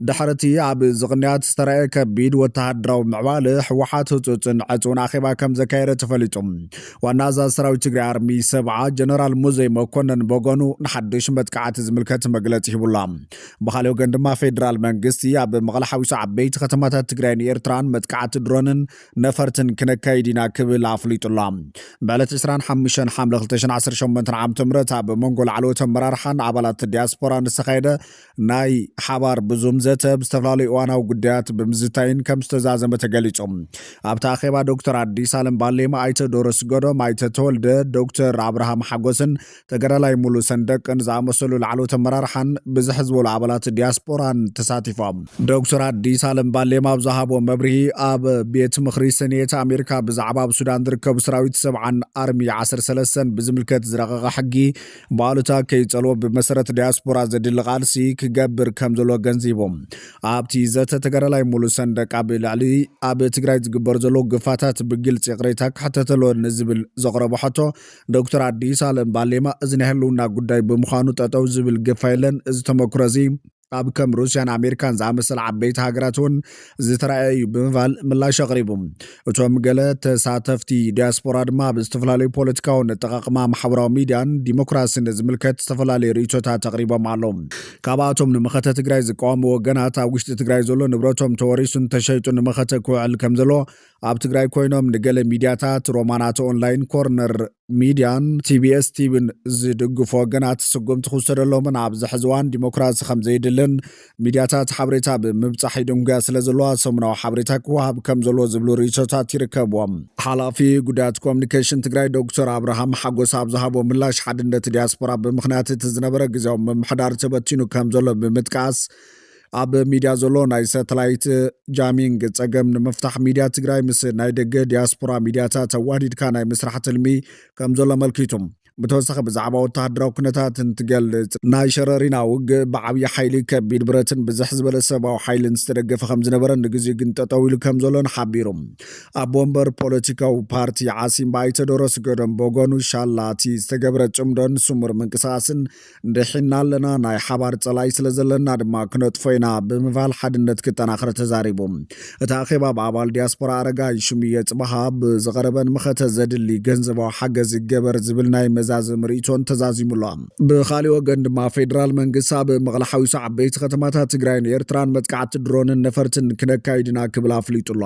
ድሕሪ እቲ ኣብ እዚ ቅንያት ዝተረኣየ ከቢድ ወተሃደራዊ ምዕባለ ህወሓት ህፁፅን ዕፅውን ኣኼባ ከም ዘካየደ ተፈሊጡ። ዋና ኣዛዚ ሰራዊት ትግራይ ኣርሚ ሰብዓ ጀነራል ሙዘይ መኮነን በጎኑ ንሓዱሽ መጥቃዕቲ ዝምልከት መግለፂ ሂቡላ። ብካሊእ ወገን ድማ ፌዴራል መንግስቲ ኣብ መቐለ ሓዊሱ ዓበይቲ ከተማታት ትግራይን ኤርትራን መጥቃዕቲ ድሮንን ነፈርትን ክነካይድ ኢና ክብል ኣፍሊጡላ ብዕለት 25 ሓምለ 2018 ዓ ም ኣብ መንጎ ላዕለዎት ኣመራርሓን ኣባላት ዲያስፖራን ዝተኻየደ ናይ ሓባር ብዙም ዘተ ብ ዝተፈላለዩ እዋናዊ ጉዳያት ብምዝታይን ከም ዝተዛዘመ ተገሊጹ። ኣብቲ ኣኼባ ዶክተር ኣዲስ ኣለም ባሌማ፣ ኣይተ ዶሮ ስገዶም፣ ኣይተ ተወልደ፣ ዶክተር ኣብርሃም ሓጎስን ተጋዳላይ ሙሉ ሰንደቅን ዝኣመሰሉ ላዕለዎት ኣመራርሓን ብዝሕ ዝበሉ ኣባላት ዲያስፖራን ተሳቲፎም። ዶክተር ኣዲስ ኣለም ባሌማ ኣብ ዝሃቦ መብርሂ፣ ኣብ ቤት ምኽሪ ሰኔት ኣሜሪካ ብዛዕባ ኣብ ሱዳን ዝርከቡ ሰራዊት ሰብዓን ኣርሚ ዓሰርተ ሰለስተን ብዝምልከት ዝረቐቐ ሕጊ፣ ብኣሉታ ከይጸልዎ ብመሰረት ዲያስፖራ ዘድሊ ቃልሲ ክገብር ከም ዘሎ ገንዚቦም ኣብቲ ዘተ ተጋዳላይ ሙሉ ሰንደቅ ኣብ ልዕሊ ኣብ ትግራይ ዝግበሩ ዘለዉ ግፋታት ብግልፂ ይቕሬታ ክሕተት ኣለዎ ንዝብል ዘቕረቦ ሕቶ ዶክተር ኣዲስ ኣለም ባሌማ እዚ ናይ ህልውና ጉዳይ ብምዃኑ ጠጠው ዝብል ግፋ የለን እዚ ተመክሮ እዚ ኣብ ከም ሩስያን ኣሜሪካን ዝኣመሰለ ዓበይቲ ሃገራት እውን ዝተረኣየ እዩ ብምባል ምላሽ ኣቕሪቡ። እቶም ገለ ተሳተፍቲ ዲያስፖራ ድማ ኣብ ዝተፈላለዩ ፖለቲካውን ኣጠቓቕማ ማሕበራዊ ሚዲያን ዲሞክራሲን ዝምልከት ዝተፈላለዩ ርእይቶታት ኣቕሪቦም ኣለዉ። ካብኣቶም ንመኸተ ትግራይ ዝቃወሙ ወገናት ኣብ ውሽጢ ትግራይ ዘሎ ንብረቶም ተወሪሱን ተሸይጡን ንመኸተ ክውዕል ከምዘለዎ ኣብ ትግራይ ኮይኖም ንገለ ሚዲያታት ሮማናት ኦንላይን ኮርነር ሚድያን ቲቢኤስ ቲቪን ዝድግፉ ወገናት ስጉምቲ ክውሰደሎምን ኣብዚ ሕዚ እዋን ዲሞክራሲ ከምዘይድልን ሚድያታት ሓበሬታ ብምብፃሕ ይድንጉያ ስለዘለዋ ሰሙናዊ ሓበሬታ ክወሃብ ከምዘለዎ ዝብሉ ርእይቶታት ይርከብዎም። ሓላፊ ጉዳያት ኮሚኒኬሽን ትግራይ ዶክተር ኣብርሃም ሓጎስ ኣብ ዝሃቦ ምላሽ ሓድነት ዲያስፖራ ብምኽንያት እቲ ዝነበረ ግዜያዊ ምምሕዳር ተበቲኑ ከምዘሎ ብምጥቃስ ኣብ ሚድያ ዘሎ ናይ ሰተላይት ጃሚንግ ጸገም ንምፍታሕ ሚድያ ትግራይ ምስ ናይ ደገ ዲያስፖራ ሚድያታት ኣዋህዲድካ ናይ ምስራሕ ትልሚ ከም ዘሎ ኣመልኪቱ። ብተወሳኺ ብዛዕባ ወተሃደራዊ ኩነታት እንትገልጽ፣ ናይ ሸረሪና ውግእ ብዓብዪ ሓይሊ ከቢድ ብረትን ብዝሕ ዝበለ ሰብኣዊ ሓይልን ዝተደገፈ ከም ዝነበረን ንግዜኡ ግን ጠጠው ኢሉ ከም ዘሎን ሓቢሩ። ኣቦ ወንበር ፖለቲካዊ ፓርቲ ዓሲምባ ኣይተ ዶሮስ ገዶም ብወገኑ፣ ሻላቲ ዝተገብረ ጽምዶን ስሙር ምንቅስቓስን ድሒና ኣለና፣ ናይ ሓባር ጸላኢ ስለ ዘለና ድማ ክነጥፎ ኢና ብምባል ሓድነት ክጠናኸር ተዛሪቡ። እቲ ኣኼባ ብ ኣባል ዲያስፖራ ኣረጋይ ሽሙየ ጽባሃ ብዝቐረበን መኸተ ዘድሊ ገንዘባዊ ሓገዝ ይገበር ዝብል ናይ መዛዘሚ ርእይቶን ተዛዚሙ ኣሎ። ብኻሊእ ወገን ድማ ፌደራል መንግስቲ ኣብ መቐለ ሓዊሱ ዓበይቲ ከተማታት ትግራይን ኤርትራን መጥቃዕቲ ድሮንን ነፈርትን ክነካይድ ኢና ክብል ኣፍሊጡ ኣሎ።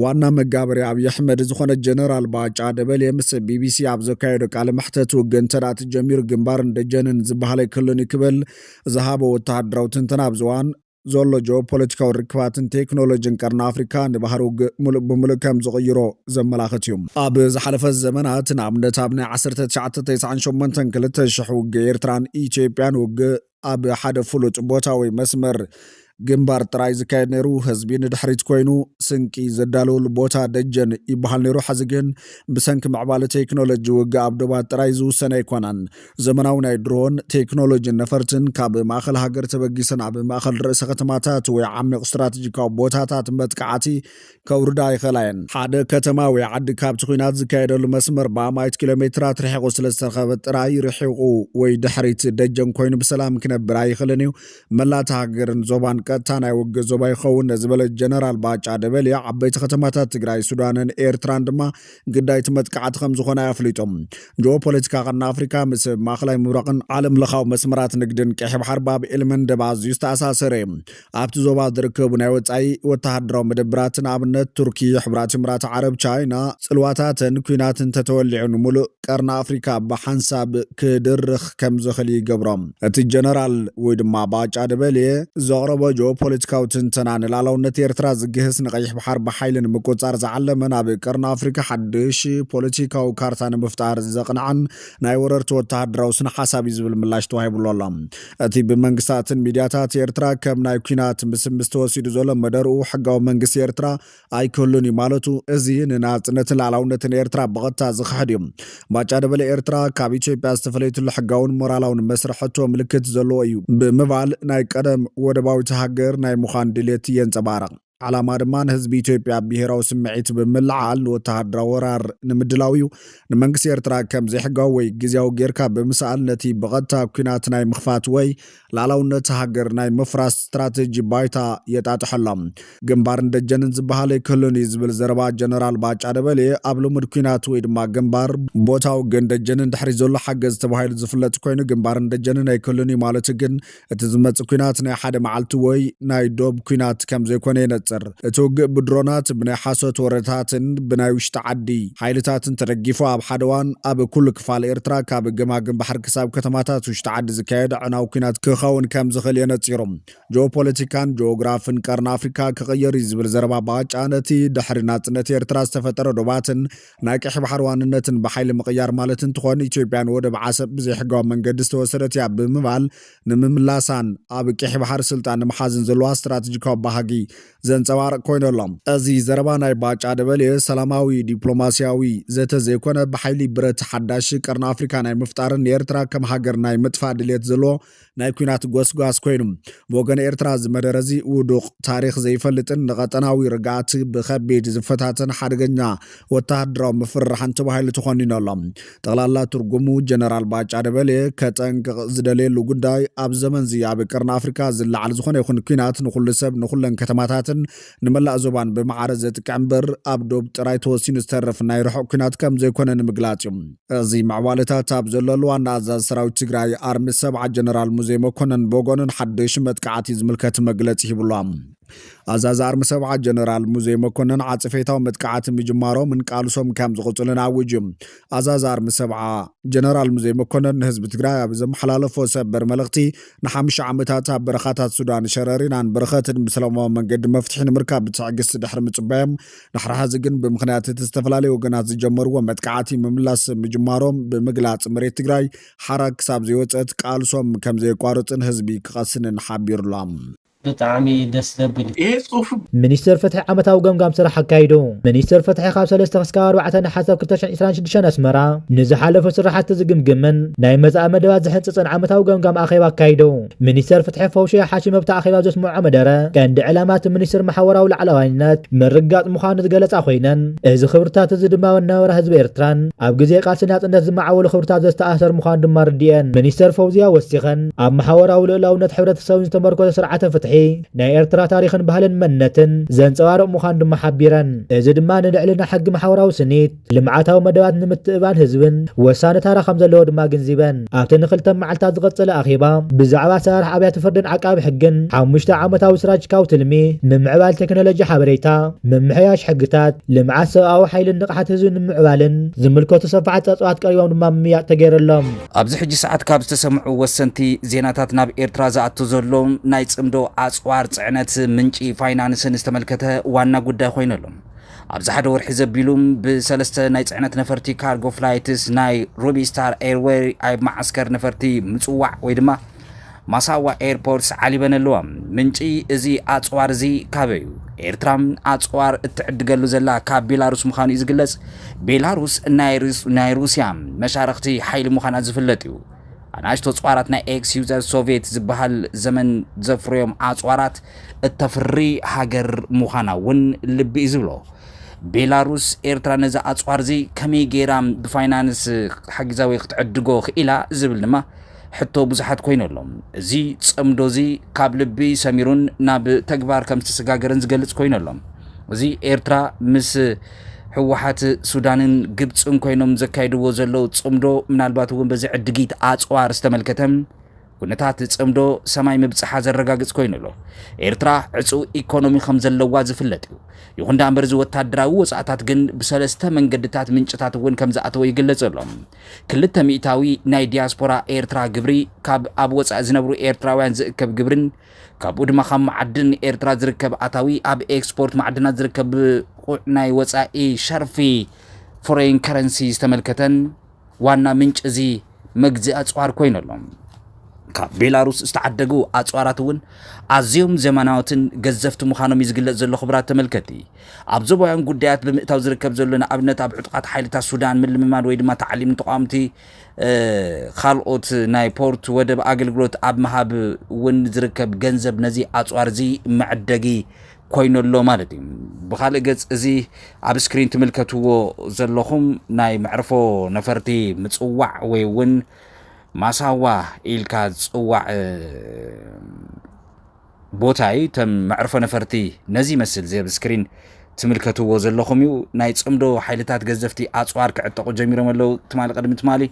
ዋና መጋበሪ ኣብዪ ኣሕመድ ዝኾነ ጀነራል ባጫ ደበሌ ምስ ቢቢሲ ኣብ ዘካየዶ ቃለ መሕተት ውግእ እንተ ተጀሚሩ ግንባርን ደጀንን ዝበሃል ኣይክሉን እዩ ክብል ዝሃቦ ወተሃደራዊ ትንተና ኣብዚ እዋን ዘሎ ጂኦፖለቲካዊ ርክባትን ቴክኖሎጂን ቀርኒ ኣፍሪካ ንባህሪ ውግእ ሙሉእ ብምሉእ ከም ዝቕይሮ ዘመላኽት እዩ። ኣብ ዝሓለፈ ዘመናት ንኣብነት ኣብ ናይ ዓሰርተ ትሽዓተ ተስዓን ሸሞንተን ክልተ ሽሕ ውግእ ኤርትራን ኢትዮጵያን ውግእ ኣብ ሓደ ፍሉጥ ቦታ ወይ መስመር ግንባር ጥራይ ዝካየድ ነይሩ። ህዝቢ ንድሕሪት ኮይኑ ስንቂ ዘዳልወሉ ቦታ ደጀን ይበሃል ነይሩ። ሕዚ ግን ብሰንኪ ምዕባለ ቴክኖሎጂ ውግእ ኣብ ዶባት ጥራይ ዝውሰን ኣይኮነን። ዘመናዊ ናይ ድሮን ቴክኖሎጂን ነፈርትን ካብ ማእኸል ሃገር ተበጊሰን ኣብ ማእኸል ርእሰ ከተማታት ወይ ዓሚቕ ስትራቴጂካዊ ቦታታት መጥቃዕቲ ከውርዳ ኣይኸላየን። ሓደ ከተማ ወይ ዓዲ ካብቲ ኩናት ዝካየደሉ መስመር ብኣማኢት ኪሎ ሜትራት ርሒቑ ስለ ዝተረኸበ ጥራይ ርሒቑ ወይ ድሕሪት ደጀን ኮይኑ ብሰላም ክነብር ኣይኽልን እዩ። መላእ እታ ሃገርን ዞባን ቀጥታ ናይ ውግእ ዞባ ይኸውን ዝበለ ጀነራል ባጫ ደበሌ ዓበይቲ ከተማታት ትግራይ፣ ሱዳንን ኤርትራን ድማ ግዳይ እቲ መጥቃዕቲ ከም ዝኾና እዩ ኣፍሊጡ። ጂኦፖለቲካ ቀርኒ ኣፍሪካ ምስ ማእኸላይ ምብራቕን ዓለምለኻዊ መስመራት ንግድን ቀይሕ ባሕር ባብ ኤልመንደብ ኣዝዩ ዝተኣሳሰረ እዩ። ኣብቲ ዞባ ዝርከቡ ናይ ወጻኢ ወተሃደራዊ መደብራት ንኣብነት ቱርኪ፣ ሕቡራት ኢምራት ዓረብ፣ ቻይና ጽልዋታተን ኲናት እንተተወሊዑ ንምሉእ ቀርኒ ኣፍሪካ ብሓንሳብ ክድርኽ ከምዝኽል ይገብሮ። እቲ ጀነራል ወይ ድማ ባጫ ደበሌ ዘቕረቦ ጂኦፖለቲካዊ ትንተና ንላእላውነት ኤርትራ ዝግህስ ንቀይሕ ባሕር ብሓይሊ ንምቁጽጻር ዝዓለመ ናብ ቀርኒ ኣፍሪካ ሓድሽ ፖለቲካዊ ካርታ ንምፍጣር ዘቕንዐን ናይ ወረርቲ ወተሃደራዊ ስነ ሓሳብ እዩ ዝብል ምላሽ ተዋሂብሉ ኣሎ። እቲ ብመንግስታትን ሚድያታት ኤርትራ ከም ናይ ኩናት ምስምስ ተወሲዱ ዘሎ መደርኡ ሕጋዊ መንግስቲ ኤርትራ ኣይክህሉን እዩ ማለቱ እዚ ንናጽነትን ላዕላውነትን ኤርትራ ብቐጥታ ዝኽሕድ እዩ። ባጫ ደበሌ ኤርትራ ካብ ኢትዮጵያ ዝተፈለየትሉ ሕጋውን ሞራላውን መስርሕ ሕቶ ምልክት ዘለዎ እዩ ብምባል ናይ ቀደም ወደባዊት ሃገር ናይ ምዃን ድሌት የንጸባርቕ። ዓላማ ድማ ንህዝቢ ኢትዮጵያ ብሄራዊ ስምዒት ብምልዓል ንወተሃደራዊ ወራር ንምድላው እዩ። ንመንግስቲ ኤርትራ ከም ዘይሕጋዊ ወይ ግዝያዊ ጌርካ ብምስኣል ነቲ ብቐጥታ ኲናት ናይ ምኽፋት ወይ ልኣላውነት ሃገር ናይ ምፍራስ ስትራተጂ ባይታ የጣጥሖ ኣሎ። ግንባርን ደጀንን ዝበሃል ኣይክህሉን እዩ ዝብል ዘረባ ጀነራል ባጫ ደበሌ ኣብ ልሙድ ኲናት ወይ ድማ ግንባር፣ ቦታ ውግእን ደጀንን ድሕሪ ዘሎ ሓገዝ ተባሂሉ ዝፍለጥ ኮይኑ ግንባርን ደጀንን ኣይክህሉን እዩ ማለቱ ግን እቲ ዝመጽእ ኩናት ናይ ሓደ መዓልቲ ወይ ናይ ዶብ ኩናት ከም ዘይኮነ የነጽር። እቲ ውግእ ብድሮናት፣ ብናይ ሓሶት ወረታትን ብናይ ውሽጢ ዓዲ ሓይልታትን ተደጊፉ ኣብ ሓደ እዋን ኣብ ኩሉ ክፋል ኤርትራ ካብ ገማግም ባሕሪ ክሳብ ከተማታት ውሽጢ ዓዲ ዝካየድ ኣዕናዊ ኩናት ክኸውን ከም ዝኽእል የነጺሩ። ጂኦፖለቲካን ጂኦግራፍን ቀርኒ ኣፍሪካ ክቕየር እዩ ዝብል ዘረባ ባጫ ነቲ ድሕሪ ናጽነት ኤርትራ ዝተፈጠረ ዶባትን ናይ ቀይሕ ባሕሪ ዋንነትን ብሓይሊ ምቕያር ማለት እንትኾን ኢትዮጵያ ንወደብ ዓሰብ ብዘይሕጋዊ መንገዲ ዝተወሰደት እያ ብምባል ንምምላሳን ኣብ ቀይሕ ባሕሪ ስልጣን ንምሓዝን ዘለዋ ስትራቴጂካዊ ባህጊ ዘንፀባርቕ ኮይኑ ኣሎ። እዚ ዘረባ ናይ ባጫ ደበሌ ሰላማዊ ዲፕሎማሲያዊ ዘተ ዘይኮነ ብሓይሊ ብረት ሓዳሽ ቀርኒ ኣፍሪካ ናይ ምፍጣርን ንኤርትራ ከም ሃገር ናይ ምጥፋእ ድሌት ዘለዎ ናይ ኩናት ጎስጓስ ኮይኑ ብወገን ኤርትራ እዚ መደረ እዚ ውዱቕ፣ ታሪኽ ዘይፈልጥን ንቐጠናዊ ርግኣት ብኸቢድ ዝፈታተን ሓደገኛ ወተሃደራዊ ምፍርራሕን ተባሂሉ ተኾኒኑ ኣሎ። ጠቕላላ ትርጉሙ ጀነራል ባጫ ደበሌ ከጠንቅቕ ዝደልየሉ ጉዳይ ኣብ ዘመንዚ ኣብ ቀርኒ ኣፍሪቃ ዝለዓል ዝኾነ ይኹን ኩናት ንኹሉ ሰብ ንኹለን ከተማታትን ንመላእ ዞባን ብማዕረ ዘጥቅዕ እምበር ኣብ ዶብ ጥራይ ተወሲኑ ዝተርፍ ናይ ርሑቕ ኲናት ከም ዘይኮነ ንምግላጽ እዩ። እዚ ምዕባለታት ኣብ ዘለሉ ዋና ኣዛዚ ሰራዊት ትግራይ ኣርሚ ሰብዓ ጀነራል ሙዜ መኮነን ብወገኑ ንሓደሹ መጥቃዕቲ ዝምልከት መግለጺ ሂቡ ኣሎ። ኣዛዚ ኣርሚ ሰብዓ ጀነራል ሙዜ መኮነን ዓጽፌታዊ መጥቃዕቲ ምጅማሮም እንቃልሶም ከም ዝቕጽሉን ኣዊጁ እዩ። ኣዛዚ ኣርሚ ሰብዓ ጀነራል ሙዘይ መኮነን ንህዝቢ ትግራይ ኣብ ዘመሓላለፎ ሰበር መልእኽቲ ንሓምሻ ዓመታት ኣብ በረኻታት ሱዳን ሸረሪናን በረኸትን ብሰላማዊ መንገዲ መፍትሒ ንምርካብ ብትዕግስቲ ድሕሪ ምፅባዮም ድሕሪ ሕዚ ግን ብምክንያት እቲ ዝተፈላለዩ ወገናት ዝጀመርዎ መጥቃዕቲ ምምላስ ምጅማሮም ብምግላፅ መሬት ትግራይ ሓራ ክሳብ ዘይወፀት ቃልሶም ከምዘየቋርፅን ህዝቢ ክቐስንን ሓቢሩሎም። ብጣዕሚ ደስ ዘብል እዩ። ሚኒስትር ፍትሒ ዓመታዊ ገምጋም ስራሕ ኣካይዱ ሚኒስትር ፍትሒ ካብ ሰለስተ ክስካብ ኣርባዕተ ነሓሰ ክልተ ሽሕን ዒስራን ሽዱሽተን ኣስመራ ንዝሓለፉ ስራሕቲ ዝግምግምን ናይ መፃኢ መደባት ዝሕንፅፅን ዓመታዊ ገምጋም ኣኼባ ኣካይዱ ሚኒስትር ፍትሒ ፈውሽያ ሓሽም ኣብቲ ኣኼባ ኣብ ዘስመዖ መደረ ቀንዲ ዕላማ እቲ ሚኒስትር ማሕወራዊ ላዕላዋይነት ምርግጋፅ ምዃኑ ዝገለፃ ኮይነን እዚ ክብርታት እዚ ድማ ኣብ ኣነባብራ ህዝቢ ኤርትራን ኣብ ግዜ ቃልሲ ናፅነት ዝመዓበሉ ክብርታት ዘስተኣሳሰር ምዃኑ ድማ ኣረዲኤን ሚኒስትር ፈውዝያ ወሲኸን ኣብ መሓወራዊ ልኡላውነት ሕብረተሰብን ዝተመርኮዘ ስርዓተ ፍትሒ ናይ ኤርትራ ታሪኽን ባህልን መንነትን ዘንጸባርቕ ምዃኑ ድማ ሓቢረን። እዚ ድማ ንልዕልና ሕጊ መሓውራዊ ስኒት፣ ልምዓታዊ መደባት ንምትእብባን ህዝብን ወሳኒ ታራ ከም ዘለዎ ድማ ኣግንዚበን። ኣብቲ ንክልተ መዓልታት ዝቐጸለ ኣኼባ ብዛዕባ ኣሰራርሓ ኣብያተ ፍርድን ዓቃቢ ሕግን ሓሙሽተ ዓመታዊ ስራጅካዊ ትልሚ፣ ምምዕባል ቴክኖሎጂ ሓበሬታ፣ ምምሕያሽ ሕግታት፣ ልምዓት ሰብኣዊ ሓይልን ንቕሓት ህዝብን ንምምዕባልን ዝምልከቱ ሰፋሕቲ ጸብጻባት ቀሪቦም ድማ ምምይያጥ ተገይረሎም። ኣብዚ ሕጂ ሰዓት ካብ ዝተሰምዑ ወሰንቲ ዜናታት ናብ ኤርትራ ዝኣቱ ዘሎ ናይ ጽምዶ ኣጽዋር ጽዕነት ምንጪ ፋይናንስን ዝተመልከተ ዋና ጉዳይ ኮይኑ ኣሎ። ኣብዚ ሓደ ወርሒ ዘቢሉ ብሰለስተ ናይ ጽዕነት ነፈርቲ ካርጎ ፍላይትስ ናይ ሩቢስታር ኤርዌይ ኣብ መዓስከር ነፈርቲ ምጽዋዕ ወይ ድማ ማሳዋ ኤርፖርትስ ዓሊበን ኣለዋ። ምንጪ እዚ ኣጽዋር እዚ ካበዩ? ኤርትራ ኣጽዋር እትዕድገሉ ዘላ ካብ ቤላሩስ ምዃኑ እዩ ዝግለጽ። ቤላሩስ ናይ ሩስያ መሻርኽቲ ሓይሊ ምዃና ዝፍለጥ እዩ። ኣናእሽቶ ኣጽዋራት ናይ ኤክስ ዩዘር ሶቭየት ዝበሃል ዘመን ዘፍርዮም ኣጽዋራት እተፍሪ ሃገር ምዃና እውን ልቢ እዩ ዝብሎ። ቤላሩስ ኤርትራ ነዚ ኣጽዋር እዚ ከመይ ገይራ ብፋይናንስ ሓጊዛ ወይ ክትዕድጎ ክኢላ ዝብል ድማ ሕቶ ብዙሓት ኮይኑ ኣሎ። እዚ ጽምዶ እዚ ካብ ልቢ ሰሚሩን ናብ ተግባር ከም ዝተሰጋገረን ዝገልጽ ኮይኑ ኣሎ። እዚ ኤርትራ ምስ ህወሓት ሱዳንን ግብፅን ኮይኖም ዘካይድዎ ዘለዉ ጽምዶ ምናልባት እውን በዚ ዕድጊት ኣፅዋር ዝተመልከተ ኩነታት ጽምዶ ሰማይ ምብፅሓ ዘረጋግፅ ኮይኑ ኣሎ ኤርትራ ዕፁው ኢኮኖሚ ከም ዘለዋ ዝፍለጥ እዩ ይኹን ዳምበር እዚ ወታደራዊ ወፃእታት ግን ብሰለስተ መንገድታት ምንጭታት እውን ከም ዝኣተወ ይግለፅ ኣሎ ክልተ ሚእታዊ ናይ ዲያስፖራ ኤርትራ ግብሪ ካብ ኣብ ወጻኢ ዝነብሩ ኤርትራውያን ዝእከብ ግብሪን ካብኡ ድማ ካብ መዓድን ኤርትራ ዝርከብ ኣታዊ ኣብ ኤክስፖርት ማዕድናት ዝርከብ ብቑዕ ናይ ወጻኢ ሸርፊ ፎረይን ከረንሲ ዝተመልከተን ዋና ምንጪ እዚ መግዚ ኣጽዋር ኮይኑ ኣሎ። ካብ ቤላሩስ ዝተዓደጉ ኣጽዋራት እውን ኣዝዮም ዘመናዎትን ገዘፍቲ ምዃኖም እዩ ዝግለጽ ዘሎ ክቡራት ተመልከቲ። ኣብ ዞባውያን ጉዳያት ብምእታው ዝርከብ ዘሎ ንኣብነት ኣብ ዕጡቓት ሓይልታት ሱዳን ምልምማድ ወይ ድማ ተዓሊም ንተቓወምቲ ካልኦት ናይ ፖርት ወደብ ኣገልግሎት ኣብ ምሃብ እውን ዝርከብ ገንዘብ ነዚ ኣፅዋር እዚ መዕደጊ ኮይኑ ኣሎ ማለት እዩ ብካልእ ገፅ እዚ ኣብ ስክሪን ትምልከትዎ ዘለኹም ናይ መዕርፎ ነፈርቲ ምፅዋዕ ወይ እውን ማሳዋ ኢልካ ዝፅዋዕ ቦታይ ተም መዕርፎ ነፈርቲ ነዚ ይመስል እዚ ኣብ ስክሪን ትምልከትዎ ዘለኹም እዩ ናይ ጽምዶ ሓይልታት ገዘፍቲ ኣጽዋር ክዕጠቑ ጀሚሮም ኣለው ትማሊ ቅድሚ ትማሊ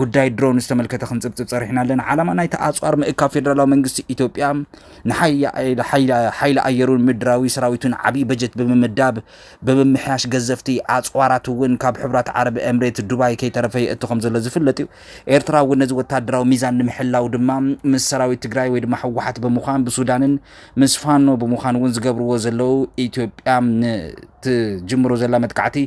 ጉዳይ ድሮን ዝተመልከተ ክንጽብጽብ ጸሪሕና ኣለና ዓላማ ናይቲ ኣጽዋር ምእካብ ፌደራላዊ መንግስቲ ኢትዮጵያ ንሓይሊ ኣየሩን ምድራዊ ሰራዊቱን ዓብይ በጀት ብምምዳብ ብምምሕያሽ ገዘፍቲ ኣጽዋራት እውን ካብ ሕብራት ዓረብ ኤምሬት ዱባይ ከይተረፈ የእቱ ከም ዘሎ ዝፍለጥ እዩ ኤርትራ እውን ነዚ ወታደራዊ ሚዛን ንምሕላው ድማ ምስ ሰራዊት ትግራይ ወይ ድማ ህወሓት ብምዃን ብሱዳንን ምስ ፋኖ ብምዃን እውን ዝገብርዎ ዘለው ኢትዮጵያ ንትጅምሮ ዘላ መጥቃዕቲ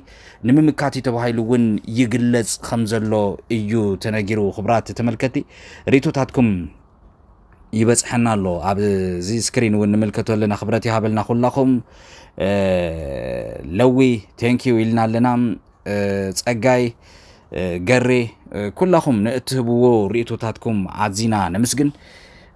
ንምምካት እዩ ተባሂሉ እውን ይግለጽ ከም ዘሎ እዩ ተነጊሩ። ክብራት ተመልከቲ ርእቶታትኩም ይበፅሐና ኣሎ ኣብዚ ስክሪን እውን ንምልከቶ ኣለና ክብረት ይሃበልና ኩላኹም ለዊ ቴንኪዩ ኢልና ኣለና ጸጋይ ገሬ ኩላኹም ንእትህብዎ ርእይቶታትኩም ኣዚና ነምስግን።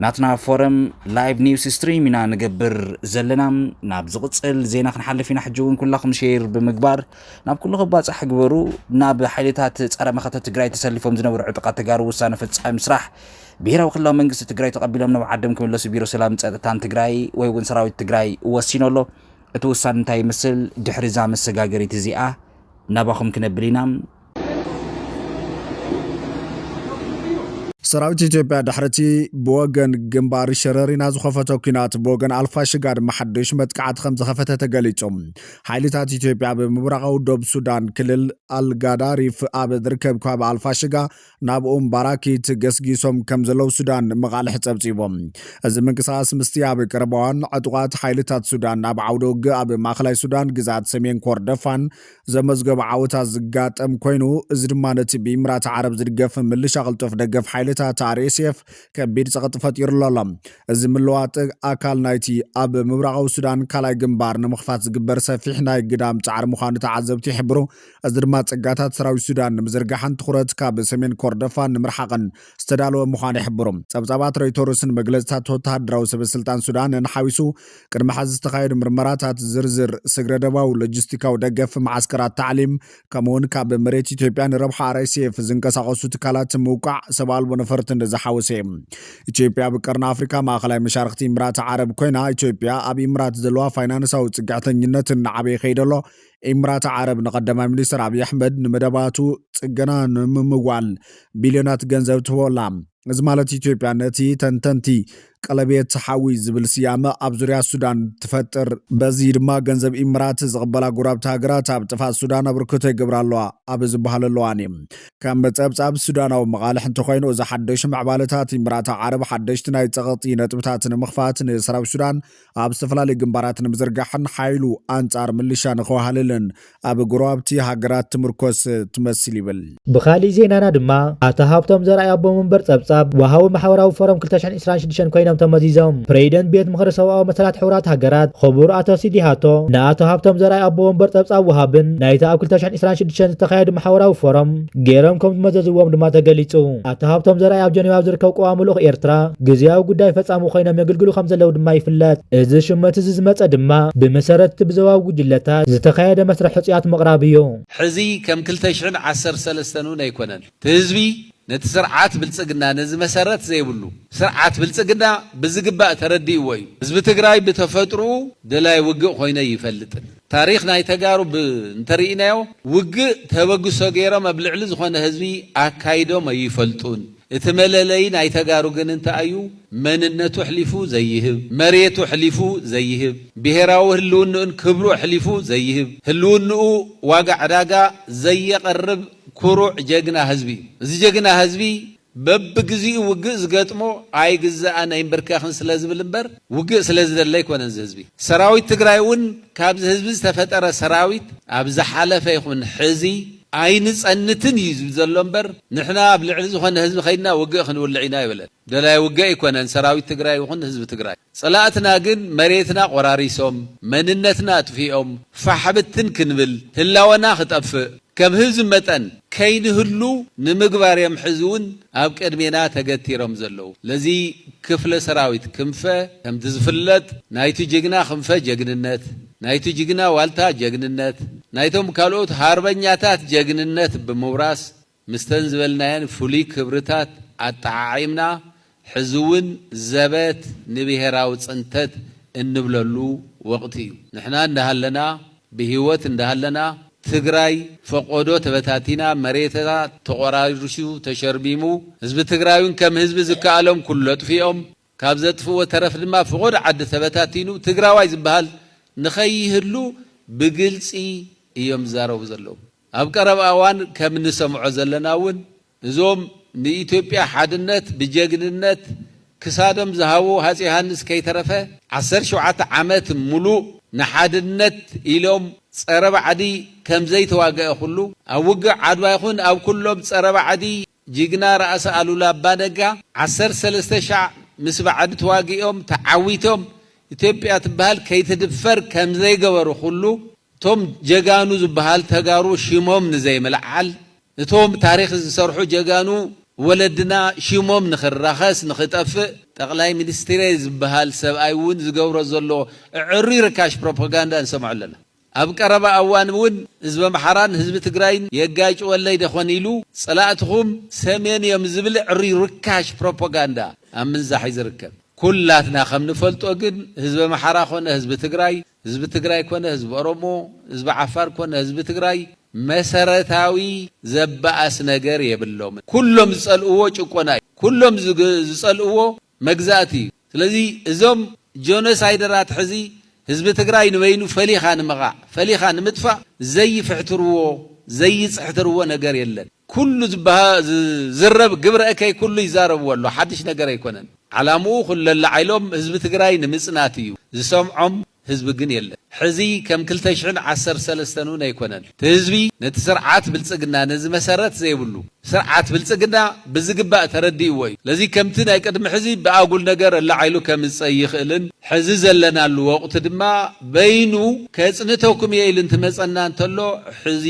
ናትና ፎረም ላይቭ ኒውስ ስትሪም ኢና ንገብር ዘለና ናብ ዝቕፅል ዜና ክንሓልፍ ኢና ሕጂ እውን ኩላኹም ሼር ብምግባር ናብ ኩሉ ክባፃሕ ግበሩ ናብ ሓይልታት ፀረ መኸተ ትግራይ ተሰሊፎም ዝነበሩ ዕጡቓት ተጋሩ ውሳነ ፈፃሚ ስራሕ ብሄራዊ ክልላዊ መንግስቲ ትግራይ ተቐቢሎም ናብ ዓዶም ክምለሱ ቢሮ ሰላምን ፀጥታን ትግራይ ወይ እውን ሰራዊት ትግራይ ወሲኑ ኣሎ እቲ ውሳነ እንታይ ይመስል ድሕሪ እዛ መሰጋገሪት እዚኣ ናባኹም ክነብል ኢና። ሰራዊት ኢትዮጵያ ድሕሪ'ቲ ብወገን ግንባር ሸረሪና ዝኸፈቶ ኲናት ብወገን ኣልፋሽጋ ድማ ሓዱሽ መጥቃዕቲ ከምዝኸፈተ ተገሊጹ። ሓይልታት ኢትዮጵያ ኣብ ምብራቓዊ ዶብ ሱዳን ክልል ኣልጋዳሪፍ ኣብ ዝርከብ ከባቢ ኣልፋሽጋ ናብ ኡም ባራኪት ገስጊሶም ከም ዘለዉ ሱዳን መቓልሕ ጸብጺቦም። እዚ ምንቅስቓስ ምስቲ ኣብ ቀረባዋን ዕጡቓት ሓይልታት ሱዳን ኣብ ዓውደ ውግእ ኣብ ማእከላይ ሱዳን ግዝኣት ሰሜን ኮርደፋን ዘመዝገቦ ዓወታት ዝጋጠም ኮይኑ እዚ ድማ ነቲ ብኢምራት ዓረብ ዝድገፍ ምልሻ ቅልጡፍ ደገፍ ሓይልታት RSF ከቢድ ጸቕጢ ፈጢሩሉ ኣሎ። እዚ ምልዋጥ ኣካል ናይቲ ኣብ ምብራቓዊ ሱዳን ካልኣይ ግንባር ንምኽፋት ዝግበር ሰፊሕ ናይ ግዳም ጻዕሪ ምዃኑ ተዓዘብቲ ይሕብሩ። እዚ ድማ ጸጋታት ሰራዊት ሱዳን ንምዝርጋሕን ትኹረት ካብ ሰሜን ኮርደፋን ንምርሓቕን ዝተዳለወ ምዃኑ ይሕብሩ። ጸብጻባት ሮይቶርስን መግለጺታት ወተሃደራዊ ሰበስልጣን ሱዳንን ሓዊሱ፣ ቅድሚ ሕዚ ዝተኻየዱ ምርመራታት፣ ዝርዝር ስግረዶባዊ ሎጂስቲካዊ ደገፍ፣ መዓስከራት ታዕሊም፣ ከምኡ'ውን ካብ መሬት ኢትዮጵያ ንረብሓ RSF ዝንቀሳቐሱ ትካላት ምውቃዕ ሰብ ኣልቦ ነፈርትን ዝሓወሰ እዩ። ኢትዮጵያ ኣብ ቀርኒ ኣፍሪካ ማእኸላይ መሻርኽቲ ኢምራት ዓረብ ኮይና፣ ኢትዮጵያ ኣብ ኢምራት ዘለዋ ፋይናንሳዊ ጽግዕተኝነት እናዓበየ ከይዱ ኣሎ። ኢምራት ዓረብ ንቀዳማይ ሚኒስትር ኣብዪ ኣሕመድ ንመደባቱ ጽገና ንምምዋል ቢልዮናት ገንዘብ ትህቦ ኣላ። እዚ ማለት ኢትዮጵያ ነቲ ተንተንቲ ቀለቤት ሓዊ ዝብል ስያመ ኣብ ዙርያ ሱዳን ትፈጥር። በዚ ድማ ገንዘብ ኢምራት ዝቕበላ ጎረባብቲ ሃገራት ኣብ ጥፍኣት ሱዳን ኣበርክቶ ይገብራ ኣለዋ ኣብ ዝበሃለሉ እዋን እዩ። ከም ጸብጻብ ሱዳናዊ መቓልሕ እንተኾይኑ እዚ ሓደሽ ምዕባለታት ኢምራት ዓረብ ሓደሽቲ ናይ ጸቕጢ ነጥብታት ንምኽፋት ንሰራዊት ሱዳን ኣብ ዝተፈላለዩ ግንባራት ንምዝርጋሕን ሓይሉ ኣንጻር ምልሻ ንኸዋህልልን ኣብ ጎረባብቲ ሃገራት ትምርኮስ ትመስል ይብል። ብኻሊእ ዜናና ድማ ኣቶ ሃብቶም ዘርኣይ ኣቦ መንበር ጸብጻብ ወሃቢ ማሕበራዊ ፎረም ክልተ ሽሕን ዕስራን ሽዱሽተን ኮይኖም ተመዚዞም። ፕረዚደንት ቤት ምኽሪ ሰብኣዊ መሰላት ሕቡራት ሃገራት ኽቡር ኣቶ ሲዲሃቶ ንኣቶ ሃብቶም ዘርኣይ ኣቦ ወንበር ጸብጻብ ወሃብን ናይቲ ኣብ ክልተ ሽሕን ዕስራን ሽዱሽተን ዝተኻየዱ ማሕበራዊ ፎረም ገይሮም ከም ዝመዘዝዎም ድማ ተገሊጹ። ኣቶ ሃብቶም ዘርኣይ ኣብ ጀኔቫ ኣብ ዝርከብ ቀዋሚ ልኡኽ ኤርትራ ግዝያዊ ጉዳይ ፈጻሚ ኮይኖም የግልግሉ ከም ዘለዉ ድማ ይፍለጥ። እዚ ሽመት እዚ ዝመጸ ድማ ብመሰረት እቲ ብዞባዊ ጉጅለታት ዝተኻየደ መስርሕ ሕጹያት ምቕራብ እዩ። ሕዚ ከም ክልተ ሽሕን ዓሰርተ ሰለስተን እውን ኣይኮነን። እቲ ህዝቢ ነቲ ስርዓት ብልጽግና ነዚ መሰረት ዘይብሉ ስርዓት ብልጽግና ብዝግባእ ተረዲእዎ እዩ። ህዝቢ ትግራይ ብተፈጥርኡ ደላይ ውግእ ኮይነ ኣይፈልጥን። ታሪኽ ናይ ተጋሩ ብ እንተሪኢናዮ ውግእ ተበግሶ ገይሮም ኣብ ልዕሊ ዝኾነ ህዝቢ ኣካይዶም ኣይፈልጡን እቲ መለለዪ ናይ ተጋሩ ግን እንታይ ኣዩ መንነቱ ኣሕሊፉ ዘይህብ መሬቱ ኣሕሊፉ ዘይህብ ብሄራዊ ህልውንኡን ክብሩ ኣሕሊፉ ዘይህብ ህልውንኡ ዋጋ ዕዳጋ ዘየቅርብ ኩሩዕ ጀግና ህዝቢ እዩ እዚ ጀግና ህዝቢ በብግዚኡ ውግእ ዝገጥሞ ኣይግዛእን ኣይምብርከኽን ስለ ዝብል እምበር ውግእ ስለ ዝደሊ ኣይኮነን እዚ ህዝቢ። ሰራዊት ትግራይ እውን ካብዚ ህዝቢ ዝተፈጠረ ሰራዊት ኣብ ዝሓለፈ ይኹን ሕዚ ኣይንፀንትን እዩ ዝብል ዘሎ እምበር ንሕና ኣብ ልዕሊ ዝኾነ ህዝቢ ከይድና ውግእ ክንውልዕ ኢና ኣይበለን። ደላይ ውግእ ኣይኮነን ሰራዊት ትግራይ ይኹን ህዝቢ ትግራይ። ፀላእትና ግን መሬትና ቆራሪሶም፣ መንነትና ኣጥፊኦም፣ ፋሕ ብትን ክንብል፣ ህላወና ክጠፍእ፣ ከም ህዝቢ መጠን ከይንህሉው ንምግባር እዮም ሕዚ እውን ኣብ ቅድሜና ተገቲሮም ዘለዉ። ለዚ ክፍለ ሰራዊት ክንፈ ከምቲ ዝፍለጥ ናይቱ ጅግና ክንፈ ጀግንነት፣ ናይቱ ጅግና ዋልታ ጀግንነት፣ ናይቶም ካልኦት ሃርበኛታት ጀግንነት ብምውራስ ምስተን ዝበልናየን ፍሉይ ክብርታት ኣጠዓዒምና ሕዚ'ውን ዘበት ንብሄራዊ ፅንተት እንብለሉ ወቕቲ እዩ። ንሕና እንዳሃለና፣ ብህይወት እንዳሃለና፣ ትግራይ ፈቖዶ ተበታቲና፣ መሬታ ተቖራሪሱ ተሸርቢሙ፣ ህዝቢ ትግራይ'ውን ከም ህዝቢ ዝከኣሎም ኩሉ ኣጥፊኦም፣ ካብ ዘጥፍእዎ ተረፍ ድማ ፍቖዶ ዓዲ ተበታቲኑ፣ ትግራዋይ ዝብሃል ንኸይህሉ ብግልፂ እዮም ዝዛረቡ ዘለዉ። ኣብ ቀረባ እዋን ከም እንሰምዖ ዘለና'ውን እዞም ንኢትዮጵያ ሓድነት ብጀግንነት ክሳዶም ዝሃቡ ሃፄ ዮሃንስ ከይተረፈ ዓሰርተ ሸውዓተ ዓመት ሙሉእ ንሓድነት ኢሎም ፀረ ባዕዲ ከምዘይተዋገኧ ኩሉ ኣብ ውግእ ዓድዋ ይኹን ኣብ ኩሎም ፀረ ባዕዲ ጅግና ራእሲ ኣሉላ ኣባ ነጋ ዓሰርተ ሰለስተ ሻዕ ምስ ባዕዲ ተዋጊኦም ተዓዊቶም ኢትዮጵያ ትበሃል ከይትድፈር ከምዘይገበሩ ኩሉ እቶም ጀጋኑ ዝባሃል ተጋሩ ሽሞም ንዘይምልዓል እቶም ታሪኽ ዝሰርሑ ጀጋኑ ወለድና ሽሞም ንኽራኸስ ንኽጠፍእ ጠቕላይ ሚኒስትሬ ዝብሃል ሰብኣይ እውን ዝገብሮ ዘሎ እዕሩይ ርካሽ ፕሮፖጋንዳ ንሰምዖ ኣለና። ኣብ ቀረባ ኣዋን እውን ህዝቢ ኣምሓራን ህዝቢ ትግራይን የጋጭወለይ ዶ ኾን ኢሉ ፀላእትኹም ሰሜን እዮም ዝብል እዕሩይ ርካሽ ፕሮፖጋንዳ ኣብ ምንዛሕ እዩ ዝርከብ። ኩላትና ከም ንፈልጦ ግን ህዝቢ ኣምሓራ ኾነ ህዝቢ ትግራይ ህዝቢ ትግራይ ኮነ ህዝቢ ኦሮሞ፣ ህዝቢ ዓፋር ኮነ ህዝቢ ትግራይ መሰረታዊ ዘባኣስ ነገር የብሎምን። ኩሎም ዝፀልእዎ ጭቆና እዩ። ኩሎም ዝፀልእዎ መግዛእቲ እዩ። ስለዚ እዞም ጆኖሳይደራት ሕዚ ህዝቢ ትግራይ ንበይኑ ፈሊኻ ንምቓዕ፣ ፈሊኻ ንምጥፋእ ዘይፍሕትርዎ፣ ዘይፅሕትርዎ ነገር የለን። ኩሉ ዝዝረብ ግብረ እከይ ኩሉ ይዛረብዎ ኣሎ ሓድሽ ነገር ኣይኮነን ዓላምኡ ኩለላዓይሎም ህዝቢ ትግራይ ንምፅናት እዩ ዝሰምዖም ህዝቢ ግን የለን ሕዚ ከም ክልተ ሽሕን ዓሰርተ ሰለስተን እውን ኣይኮነን ትህዝቢ ነቲ ስርዓት ብልፅግና ነዚ መሰረት ዘይብሉ ስርዓት ብልፅግና ብዝግባእ ተረዲእዎ እዩ ለዚ ከምቲ ናይ ቅድሚ ሕዚ ብኣጉል ነገር ኣላዓይሉ ከምፅ ኣይኽእልን ሕዚ ዘለናሉ ወቅቲ ድማ በይኑ ከፅንተኩም እየ ኢሉ እንትመፀና እንተሎ ሕዚ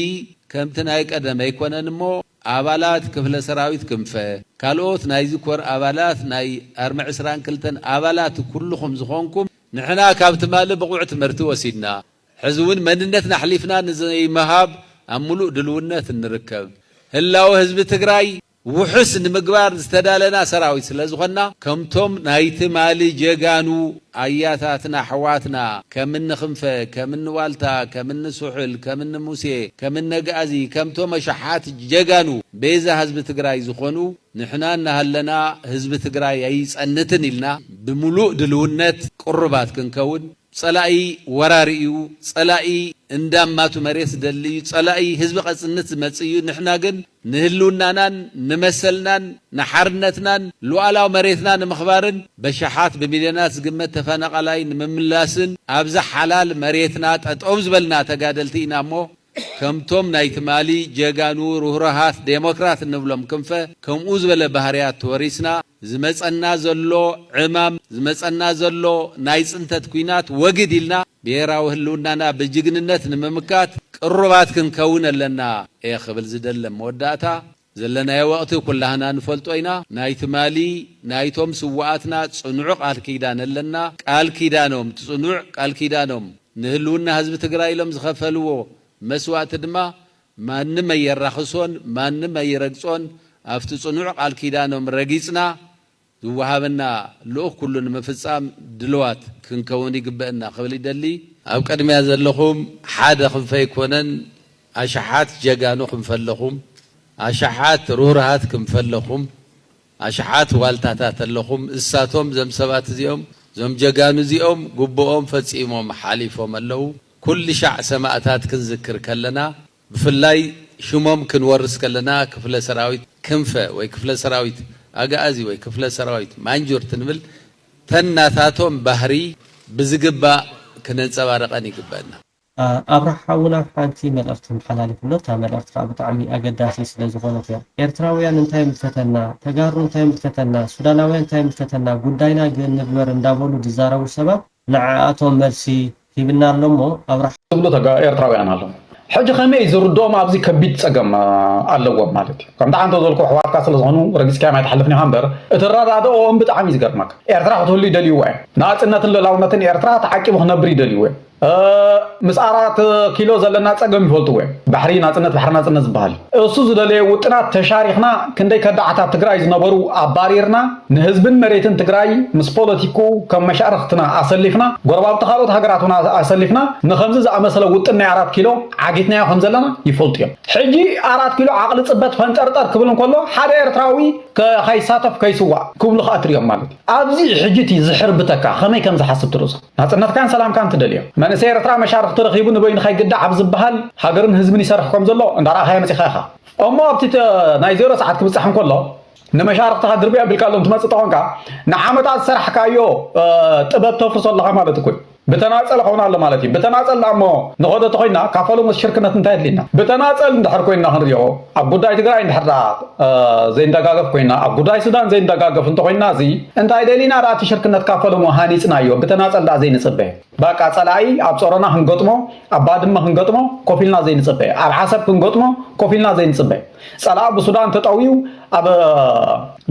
ከምቲ ናይ ቀደም ኣይኮነን እሞ ኣባላት ክፍለ ሰራዊት ክንፈ፣ ካልኦት ናይዚ ኮር ኣባላት ናይ ኣርሚ ዕስራን ክልተን ኣባላት ኩሉኹም ዝኾንኩም ንሕና ካብ ትማሊ ብቑዕ ትምህርቲ ወሲድና ሕዚ እውን መንነትና ኣሕሊፍና ንዘይምሃብ ኣብ ሙሉእ ድልውነት እንርከብ ህላወ ህዝቢ ትግራይ ውሑስ ንምግባር ዝተዳለና ሰራዊት ስለ ዝኾንና ከምቶም ናይ ትማሊ ጀጋኑ ኣያታትና ኣሕዋትና ከም እኒ ክንፈ ከም እኒ ዋልታ ከም እኒ ስሑል ከም እኒ ሙሴ ከም እኒ ኣግኣዚ ከምቶም ኣሽሓት ጀጋኑ ቤዛ ህዝቢ ትግራይ ዝኾኑ ንሕና እናሃለና ህዝቢ ትግራይ ኣይፀንትን ኢልና ብምሉእ ድልውነት ቅሩባት ክንከውን ፀላኢ ወራሪ እዩ ፀላኢ እንዳማቱ መሬት ዝደሊ እዩ ፀላኢ ህዝቢ ቀፅንት ዝመፅእ እዩ ንሕና ግን ንህልውናናን ንመሰልናን ንሓርነትናን ሉኣላዊ መሬትና ንምኽባርን በሸሓት ብሚልዮናት ዝግመት ተፈናቓላይ ንምምላስን ኣብዛ ሓላል መሬትና ጠጠው ዝበልና ተጋደልቲ ኢና እሞ ከምቶም ናይ ትማሊ ጀጋኑ ርህሩሃት ዴሞክራት እንብሎም ክንፈ ከምኡ ዝበለ ባህርያት ተወሪስና ዝመጸና ዘሎ ዕማም፣ ዝመጸና ዘሎ ናይ ጽንተት ኩናት ወግድ ኢልና ብሄራዊ ህልውናና ብጅግንነት ንምምካት ቅሩባት ክንከውን ኣለና እየ ክብል ዝደሊ። ኣብ መወዳእታ፣ ዘለናዮ ወቕቲ ኩላህና ንፈልጦ ኢና። ናይ ትማሊ ናይቶም ስውኣትና ጽኑዕ ቃል ኪዳን ኣለና። ቃል ኪዳኖም፣ እቲ ጽኑዕ ቃል ኪዳኖም፣ ንህልውና ህዝቢ ትግራይ ኢሎም ዝኸፈልዎ መስዋእቲ ድማ ማንም ኣየራኽሶን ማንም ኣይረግጾን ኣብቲ ጽኑዕ ቃል ኪዳኖም ረጊጽና ዝወሃበና ልኡኽ ኩሉ ንምፍጻም ድልዋት ክንከውን ይግበእና ክብል ይደሊ። ኣብ ቅድሚያ ዘለኹም ሓደ ክንፈ ኣይኮነን ኣሽሓት ጀጋኑ ክንፈ ኣለኹም ኣሽሓት ርህሩሃት ክንፈ ኣለኹም ኣሽሓት ዋልታታት ኣለኹም እሳቶም እዞም ሰባት እዚኦም እዞም ጀጋኑ እዚኦም ግቡኦም ፈጺሞም ሓሊፎም ኣለዉ። ኩልሻዕ ሰማእታት ክንዝክር ከለና ብፍላይ ሽሞም ክንወርስ ከለና ክፍለ ሰራዊት ክንፈ ወይ ክፍለ ሰራዊት ኣግኣዚ ወይ ክፍለ ሰራዊት ማንጁርት ንብል ተን ናታቶም ባህሪ ብዝግባእ ክነንጸባርቀን ይግበእና። ኣብርሃ ሓውና ሓንቲ መልእኽቲ ተመሓላልፍ ኣሎ እታ መልእኽቲ ከኣ ብጣዕሚ ኣገዳሲት ስለ ዝኾነት እያ ኤርትራውያን እንታይ ምፈተና ተጋሩ እንታይ ምፈተና ሱዳናውያን እንታይ ምፈተና ጉዳይና ግንብበር እንዳበሉ ዝዛረቡ ሰባት ንዓኣቶም መልሲ ሂብና ኣሎ እሞ ኣብርሃ። ዝብሉ ተጋ ኤርትራውያን ኣለዉ ሕጂ ከመይ እዩ ዝርድኦም ኣብዚ ከቢድ ጸገም ኣለዎም ማለት እዩ ከምቲ ዓንተ ዘልኩ ኣሕዋትካ ስለ ዝኾኑ ረጊጽካዮም ኣይትሓልፍን ኢኻ እምበር እቲ ኣረዳድኦም ብጣዕሚ እዩ ዝገርመካ ኤርትራ ክትህሉ ይደልይዎ እዮም ናጽነትን ልእላውነትን ኤርትራ ተዓቂቡ ክነብር ይደልይዎ እዮም ምስ ኣራት ኪሎ ዘለና ጸገም ይፈልጥዎ እዮም ባሕሪ ናጽነት ባሕሪ ናጽነት ዝበሃል እዩ እሱ ዝደለየ ውጥናት ተሻሪኽና ክንደይ ከዳዓት ኣብ ትግራይ ዝነበሩ ኣባሪርና ንህዝብን መሬትን ትግራይ ምስ ፖለቲክኡ ከም መሻርኽትና ኣሰሊፍና፣ ጎረባብቲ ካልኦት ሃገራት እውን ኣሰሊፍና ንኸምዚ ዝኣመሰለ ውጥን ናይ ኣራት ኪሎ ዓጊትናዮ ከም ዘለና ይፈልጡ እዮም። ሕጂ ኣራት ኪሎ ዓቕሊ ጽበት ፈንጠርጠር ክብል እንከሎ ሓደ ኤርትራዊ ከይሳተፍ ከይስዋእ ክብሉ ከኣ ትርእዮም ማለት እዩ። ኣብዚ ሕጂ እቲ ዝሕርብተካ ከመይ ከም ዝሓስብ ትርእዞ። ናጽነትካን ሰላምካን ትደልዮ። መንእሰይ ኤርትራ መሻርኽቲ ረኺቡ ንበይኑ ከይግዳዕ ኣብ ዝበሃል ሃገርን ህዝብን ይሰርሕ ከም ዘሎ እንዳረኣኻዮ መጺኻ ኢኻ። እሞ ኣብቲ ናይ ዜሮ ሰዓት ክብጻሕ እንከሎ፣ ንመሻርኽትኻ ድርብያ ኣቢልካሎም ትመፅእ ተኾንካ ንዓመታት ዝሰራሕካዮ ጥበብ ተፍርሶ ኣለኻ ማለት እኮ እዩ። ብተናፀል ኸውን ኣሎ ማለት እዩ። ብተናፀል ደኣ እሞ ንኸዶ ተኾይንና ካብ ፈለሙስ ሽርክነት እንታይ ኣድልየና? ብተናፀል እንድሕር ኮይንና ክንሪኦ ኣብ ጉዳይ ትግራይ እንድሕር ደኣ ዘይንደጋገፍ ኮይንና ኣብ ጉዳይ ሱዳን ዘይንደጋገፍ እንተኾይንና እዚ እንታይ ደሊና ደኣ እቲ ሽርክነት ካብ ፈለሙ ሃኒፅናዮ ብተናፀል ደኣ ዘይንፅበ? ባቃ ጸላኢ ኣብ ጾሮና ክንገጥሞ ኣብ ባድመ ክንገጥሞ ኮፍ ኢልና ዘይንጽበ ኣብ ዓሰብ ክንገጥሞ ኮፍ ኢልና ዘይንጽበ ጸላኢ ብሱዳን ተጠውዩ ኣብ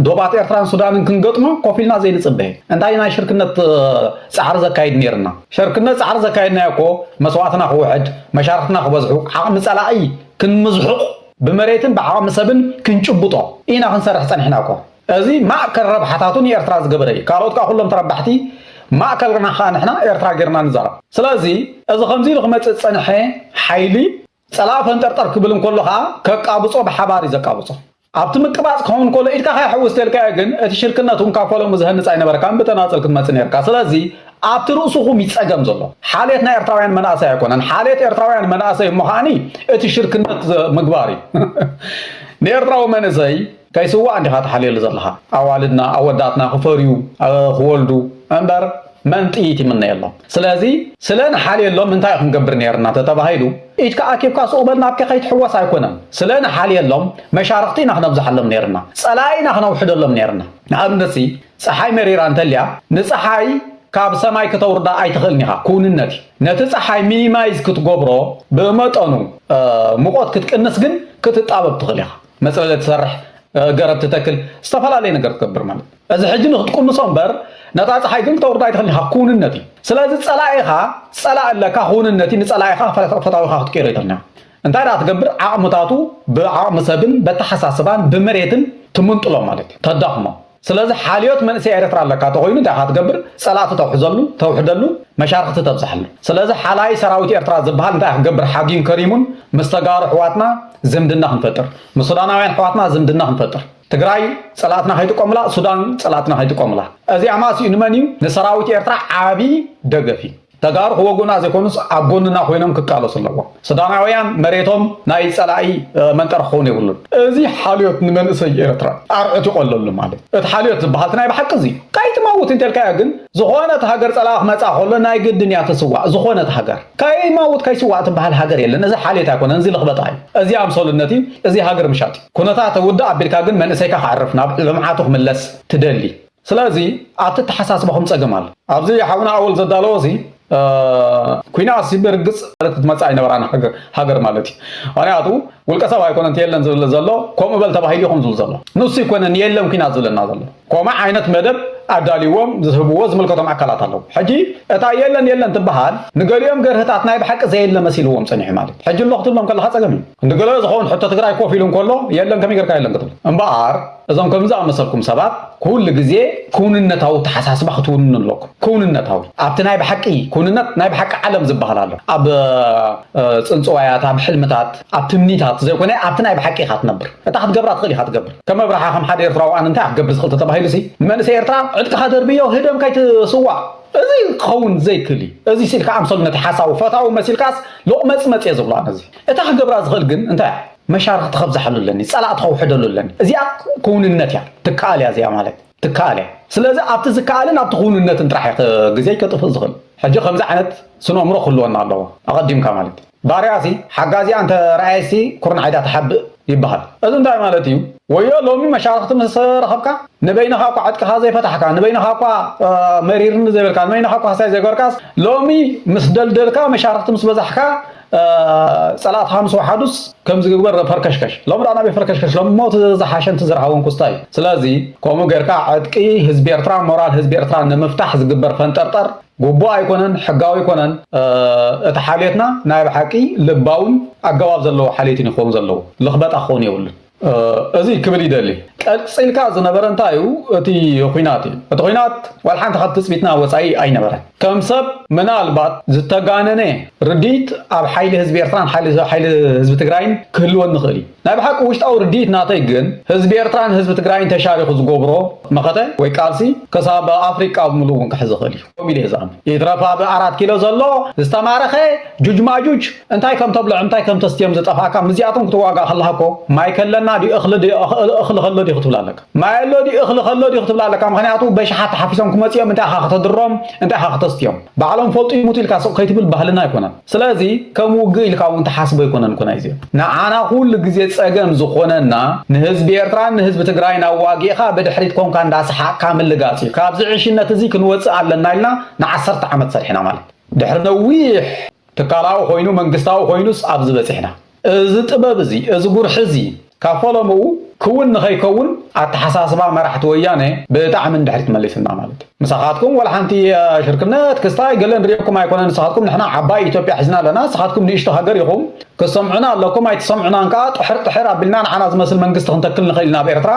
ዶባት ኤርትራን ሱዳንን ክንገጥሞ ኮፍ ኢልና ዘይንጽበ እንታይ ናይ ሽርክነት ጻዕሪ ዘካይድ ነይርና ሸርክነት ጻዕሪ ዘካየድናዮ እኮ መስዋእትና ክውሕድ መሻርኽትና ክበዝሑ ዓቕሚ ጸላኢ ክንምዝሕቑ ብመሬትን ብዓቕሚ ሰብን ክንጭብጦ ኢና ክንሰርሕ ጸኒሕና እኮ እዚ ማእከል ረብሓታቱ ንኤርትራ ዝገበረ እዩ። ካልኦት ከኣ ኩሎም ተረባሕቲ ማእከልና ከኣ ንሕና ኤርትራ ጌርና ንዛረብ። ስለዚ እዚ ከምዚ ኢሉ ክመጽእ ዝጸንሐ ሓይሊ ጸላኢ ፈንጠርጠር ክብል እንከሎ ከኣ ከቃብጾ ብሓባር እዩ ዘቃብጾ። ኣብቲ ምቅባጽ ክኸውን ከሎ ኢድካ ከይሕውስ ተልካዮ ግን እቲ ሽርክነት ውን ካብ ፈለሙ ዝሀንጽ ኣይነበረካን ብተናጸል ክትመጽእ ኔርካ። ስለዚ ኣብቲ ርእሱኹም እዩ ጸገም ዘሎ። ሓልየት ናይ ኤርትራውያን መንኣሰይ ኣይኮነን። ሓልየት ኤርትራውያን መንኣሰይ እሞ ከኣኒ እቲ ሽርክነት ምግባር እዩ። ንኤርትራዊ መንእሰይ ከይስዋኣ ዲኻ ትሓልየሉ ዘለኻ ኣዋልድና ኣወዳትና ክፈርዩ ክወልዱ እምበር መን ጥይት ይምነየሎም ስለዚ ስለ ንሓልየሎም እንታይ ክንገብር ኔርና እንተተባሂሉ ኢድካ ኣኪብካ ሱቅ በል ናብኪ ከይትሕወስ ኣይኮነን ስለ ንሓልየሎም መሻርኽቲ ኢና ክነብዝሓሎም ኔርና ጸላኢ ኢና ክነውሕደሎም ኔርና ንኣብነትሲ ጸሓይ መሪራ እንተልያ ንጸሓይ ካብ ሰማይ ክተውርዳ ኣይትኽእልን ኢኻ ኩውንነት እዩ ነቲ ጸሓይ ሚኒማይዝ ክትጎብሮ ብመጠኑ ሙቆት ክትቅንስ ግን ክትጣበብ ትኽእል ኢኻ መጽለሊ ትሰርሕ፣ ገረብ ትተክል፣ ዝተፈላለየ ነገር ትገብር ማለት እዩ። እዚ ሕጂ ንክትቁምሶ እምበር ነታ ፀሓይ ግን ክተውርዳ ኣይትኽእልን ኢኻ፣ ክውንነት እዩ። ስለዚ ፀላኢኻ ፀላኢ ኣለካ፣ ክውንነት እዩ፣ ንፀላኢኻ ፈታዊኻ ክትቅይሮ ኣይትኽእልን ኢኻ። እንታይ ደኣ ትገብር ዓቕምታቱ ብዓቕሚ ሰብን በተሓሳስባን ብመሬትን ትምንጥሎ ማለት እዩ፣ ተዳኽሞ። ስለዚ ሓልዮት መንእሰይ ኤረትራ ኣለካ ተኮይኑ እንታይ ኢካ ትገብር ጸላእቲ ተውሕዘሉ ተውሕደሉ መሻርክቲ ተብዝሓሉ ስለዚ ሓላይ ሰራዊት ኤርትራ ዝብሃል እንታይ ክገብር ሓግዩን ከሪሙን ምስ ተጋሩ ኣሕዋትና ዝምድና ክንፈጥር ምስ ሱዳናውያን ኣሕዋትና ዝምድና ክንፈጥር ትግራይ ጸላእትና ከይጥቀሙላ ሱዳን ጸላእትና ከይጥቀሙላ እዚ ኣማስኡ ንመን እዩ ንሰራዊት ኤርትራ ዓቢ ደገፍ እዩ ተጋሩ ክወጉና ዘይኮኑስ ኣብ ጎንና ኮይኖም ክቃለሱ ኣለዎም። ሱዳናውያን መሬቶም ናይ ጸላኢ መንጠሪ ክኸውን የብሉን። እዚ ሓልዮት ንመንእሰይ ኤርትራ ኣርዑት ይቆለሉ ማለት እዩ። እቲ ሓልዮት ዝበሃል እቲ ናይ ብሓቂ እዚ እዩ። ካይትመውት እንተልካዮ ግን ዝኾነት ሃገር ጸላኢ ክመጻ ከሎ ናይ ግድን እያ ትስዋእ ዝኾነት ሃገር። ከይመውት ከይስዋእ ትበሃል ሃገር የለን። እዚ ሓልዮት ኣይኮነን እዚ ልኽበጣ እዩ። እዚ ኣምሰሉነት እዩ። እዚ ሃገር ምሻጥ እዩ። ኩነታት ውድእ ኣቢልካ ግን መንእሰይካ ከዕርፍ ናብ ልምዓቱ ክምለስ ትደሊ። ስለዚ ኣብቲ ኣተሓሳስባኹም ጸገም ኣሎ። ኣብዚ ሓውና ኣወል ዘዳለዎ እዚ ኩናት ብርግጽ ክትመጽእ ኣይነበራን ሃገር ማለት እዩ። ምክንያቱ ውልቀ ሰብ ኣይኮነን እቲ የለን ዝብል ዘሎ ከምኡ በል ተባሂሉ ኢኹም ዝብል ዘሎ ንሱ ኣይኮነን የለን ኩናት ዝብለና ዘሎ ከምኡ ዓይነት መደብ ኣዳልዎም ዝህብዎ ዝምልከቶም ኣካላት ኣለዉ። ሕጂ እታ የለን የለን ትበሃል ንገሊኦም ገርህታት ናይ ብሓቂ ዘየለ መሲልዎም ጸኒሑ ማለት ሕጂ ኣሎ ክትብሎም ከለኻ ጸገም እዩ። ንገለ ዝኸውን ሕቶ ትግራይ ኮፍ ኢሉ እንከሎ የለን ከመይ ጌርካ የለን ክትብል እምበኣር እዞም ከምዚ ዝኣመሰልኩም ሰባት ኩሉ ግዜ ክውንነታዊ ኣተሓሳስባ ክትውንኑ ኣለኩም። ክውንነታዊ ኣብቲ ናይ ብሓቂ ክውንነት ናይ ብሓቂ ዓለም ዝበሃል ኣሎ። ኣብ ጽንጽዋያት፣ ኣብ ሕልምታት፣ ኣብ ትምኒታት ዘይኮነ ኣብቲ ናይ ብሓቂ ኢኻ ትነብር። እታ ክትገብራ ትኽእል ኢኻ ትገብር። ከም ኣብርሃ ከም ሓደ ኤርትራዊ ኣነ እንታይ ኢኻ ክትገብር ዝኽእል ተተባሂሉሲ ንመንእሰይ ኤርትራ ዕጥቅኻ ደርብዮ ህደም ከይትስዋእ እዚ ክኸውን ዘይክእል እዩ። እዚ ስኢልካ ኣምሰሉ ነቲ ሓሳዊ ፈታዊ መሲልካስ ሎቕመጽመጽ እየ ዝብሎ ኣነ እዚ። እታ ክገብራ ዝኽእል ግን እንታይ እያ? መሻርኽቲ ከብዝሓሉ ኣለኒ ጸላእቲ ከውሕደሉ ኣለኒ እዚኣ ክውንነት እያ ትከኣል እያ እዚኣ ማለት ትከኣል እያ ስለዚ ኣብቲ ዝከኣልን ኣብቲ ክውንነትን ጥራሕ እየ ግዜይ ከጥፍእ ዝኽእል ሕጂ ከምዚ ዓይነት ስነእምሮ ክህልወና ኣለዎ ኣቐዲምካ ማለት ባርያሲ ሓጋዚኣ እንተ ረኣየሲ ኩርናዓይዳ ትሓብእ ይበሃል እዚ እንታይ ማለት እዩ ወዮ ሎሚ መሻርኽቲ ምስ ረኸብካ ንበይንኻ እኳ ዕጥቅኻ ዘይፈታሕካ ንበይንኻ እኳ መሪርኒ ዘይበልካ ንበይንኻ እኳ ሃሳይ ዘይገበርካስ ሎሚ ምስ ደልደልካ መሻርኽቲ ምስ በዛሕካ ጸላእት ሃምስ ወሓዱስ ከምዚ ግግበር ረፈርከሽከሽ ሎም ዳኣ ናበይ ፈርከሽከሽ ሎም ሞት ዝሓሸንቲ ዝርሃወን ኩስታይ እዩ ስለዚ ከምኡ ጌርካ ዕጥቂ ህዝቢ ኤርትራ ሞራል ህዝቢ ኤርትራ ንምፍታሕ ዝግበር ፈንጠርጠር ጉቡእ ኣይኮነን ሕጋዊ ኣይኮነን እቲ ሓልዮትና ናይ ብሓቂ ልባውን ኣገባብ ዘለዎ ሓልዮት እዩ ክኸውን ዘለዎ ልኽበጣ ክኸውን የብሉን እዚ ክብል ይደሊ። ቀጺልካ ዝነበረ እንታይ እዩ እቲ ኹናት እዩ። እቲ ኹናት ዋላ ሓንቲ ካብ ትጽቢትና ወጻኢ ኣይነበረን። ከም ሰብ ምናልባት ዝተጋነነ ርድኢት ኣብ ሓይሊ ህዝቢ ኤርትራን ሓይሊ ህዝቢ ትግራይን ክህልወኒ ይኽእል እዩ። ናይ ብሓቂ ውሽጣዊ ርድኢት ናተይ ግን ህዝቢ ኤርትራን ህዝቢ ትግራይን ተሻሪኹ ዝገብሮ መኸተ ወይ ቃልሲ ክሳብ ኣፍሪቃ ብምሉኡ እውን ክሕዝ ይኽእል እዩ። ከምኡ ኢለ እየ ዝኣምን። ይትረፍ ኣብ ኣራት ኪሎ ዘሎ ዝተማረኸ ጁጅ ማጁጅ እንታይ ከም ተብልዕ እንታይ ከም ተስትዮም ዝጠፍኣካ ምስዚኣቶም ክትዋጋእ ከለኻ እኮ ማይ ከለና ድዩ እኽሊ ድዩ እኽሊ ከሎ ድዩ ክትብላ ኣለካ ማይ ኣሎ ድዩ እኽሊ ከሎ ድዩ ክትብላ ኣለካ ምክንያቱ በሽሓት ተሓፊሶም ክመፅኦም እንታይ ኢኻ ከተድሮም እንታይ ኢኻ ከተስትዮም ባዕሎም ፈልጡ ይሙቱ ኢልካ ስቕ ከይትብል ባህልና ኣይኮነን ስለዚ ከም ውግእ ኢልካ እውን ትሓስቦ ኣይኮነን እኮ ናይዚ። ንዓና ኩሉ ግዜ ጸገም ዝኾነና ንህዝቢ ኤርትራን ንህዝቢ ትግራይን ኣዋጊእኻ ብድሕሪት ኮንካ እንዳሰሓቕካ ምልጋጽ እዩ። ካብዚ ዕሽነት እዚ ክንወጽእ ኣለና ኢልና ንዓሰርተ ዓመት ሰሪሕና ማለት ድሕሪ ነዊሕ ትካላዊ ኮይኑ መንግስታዊ ኮይኑስ ኣብዚ በጺሕና። እዚ ጥበብ እዚ፣ እዚ ጉርሒ እዚ፣ ካብ ፈለምኡ ክውን ንኸይከውን ኣተሓሳስባ መራሕቲ ወያነ ብጣዕሚ ንድሕሪት መሊስና ማለት እዩ። ምሳኻትኩም ዋላ ሓንቲ ሽርክነት፣ ክስታይ፣ ገለ ንሪኤኩም ኣይኮነን። ንስኻትኩም ንሕና ዓባይ ኢትዮጵያ ሒዝና ኣለና፣ ንስኻትኩም ንእሽቶ ሃገር ኢኹም፣ ክትሰምዑና ኣለኩም፣ ኣይትሰምዑናን ከኣ ጥሕር ጥሕር ኣቢልና ንዓና ዝመስል መንግስቲ ክንተክል ንኽእል ኢና ኣብ ኤርትራ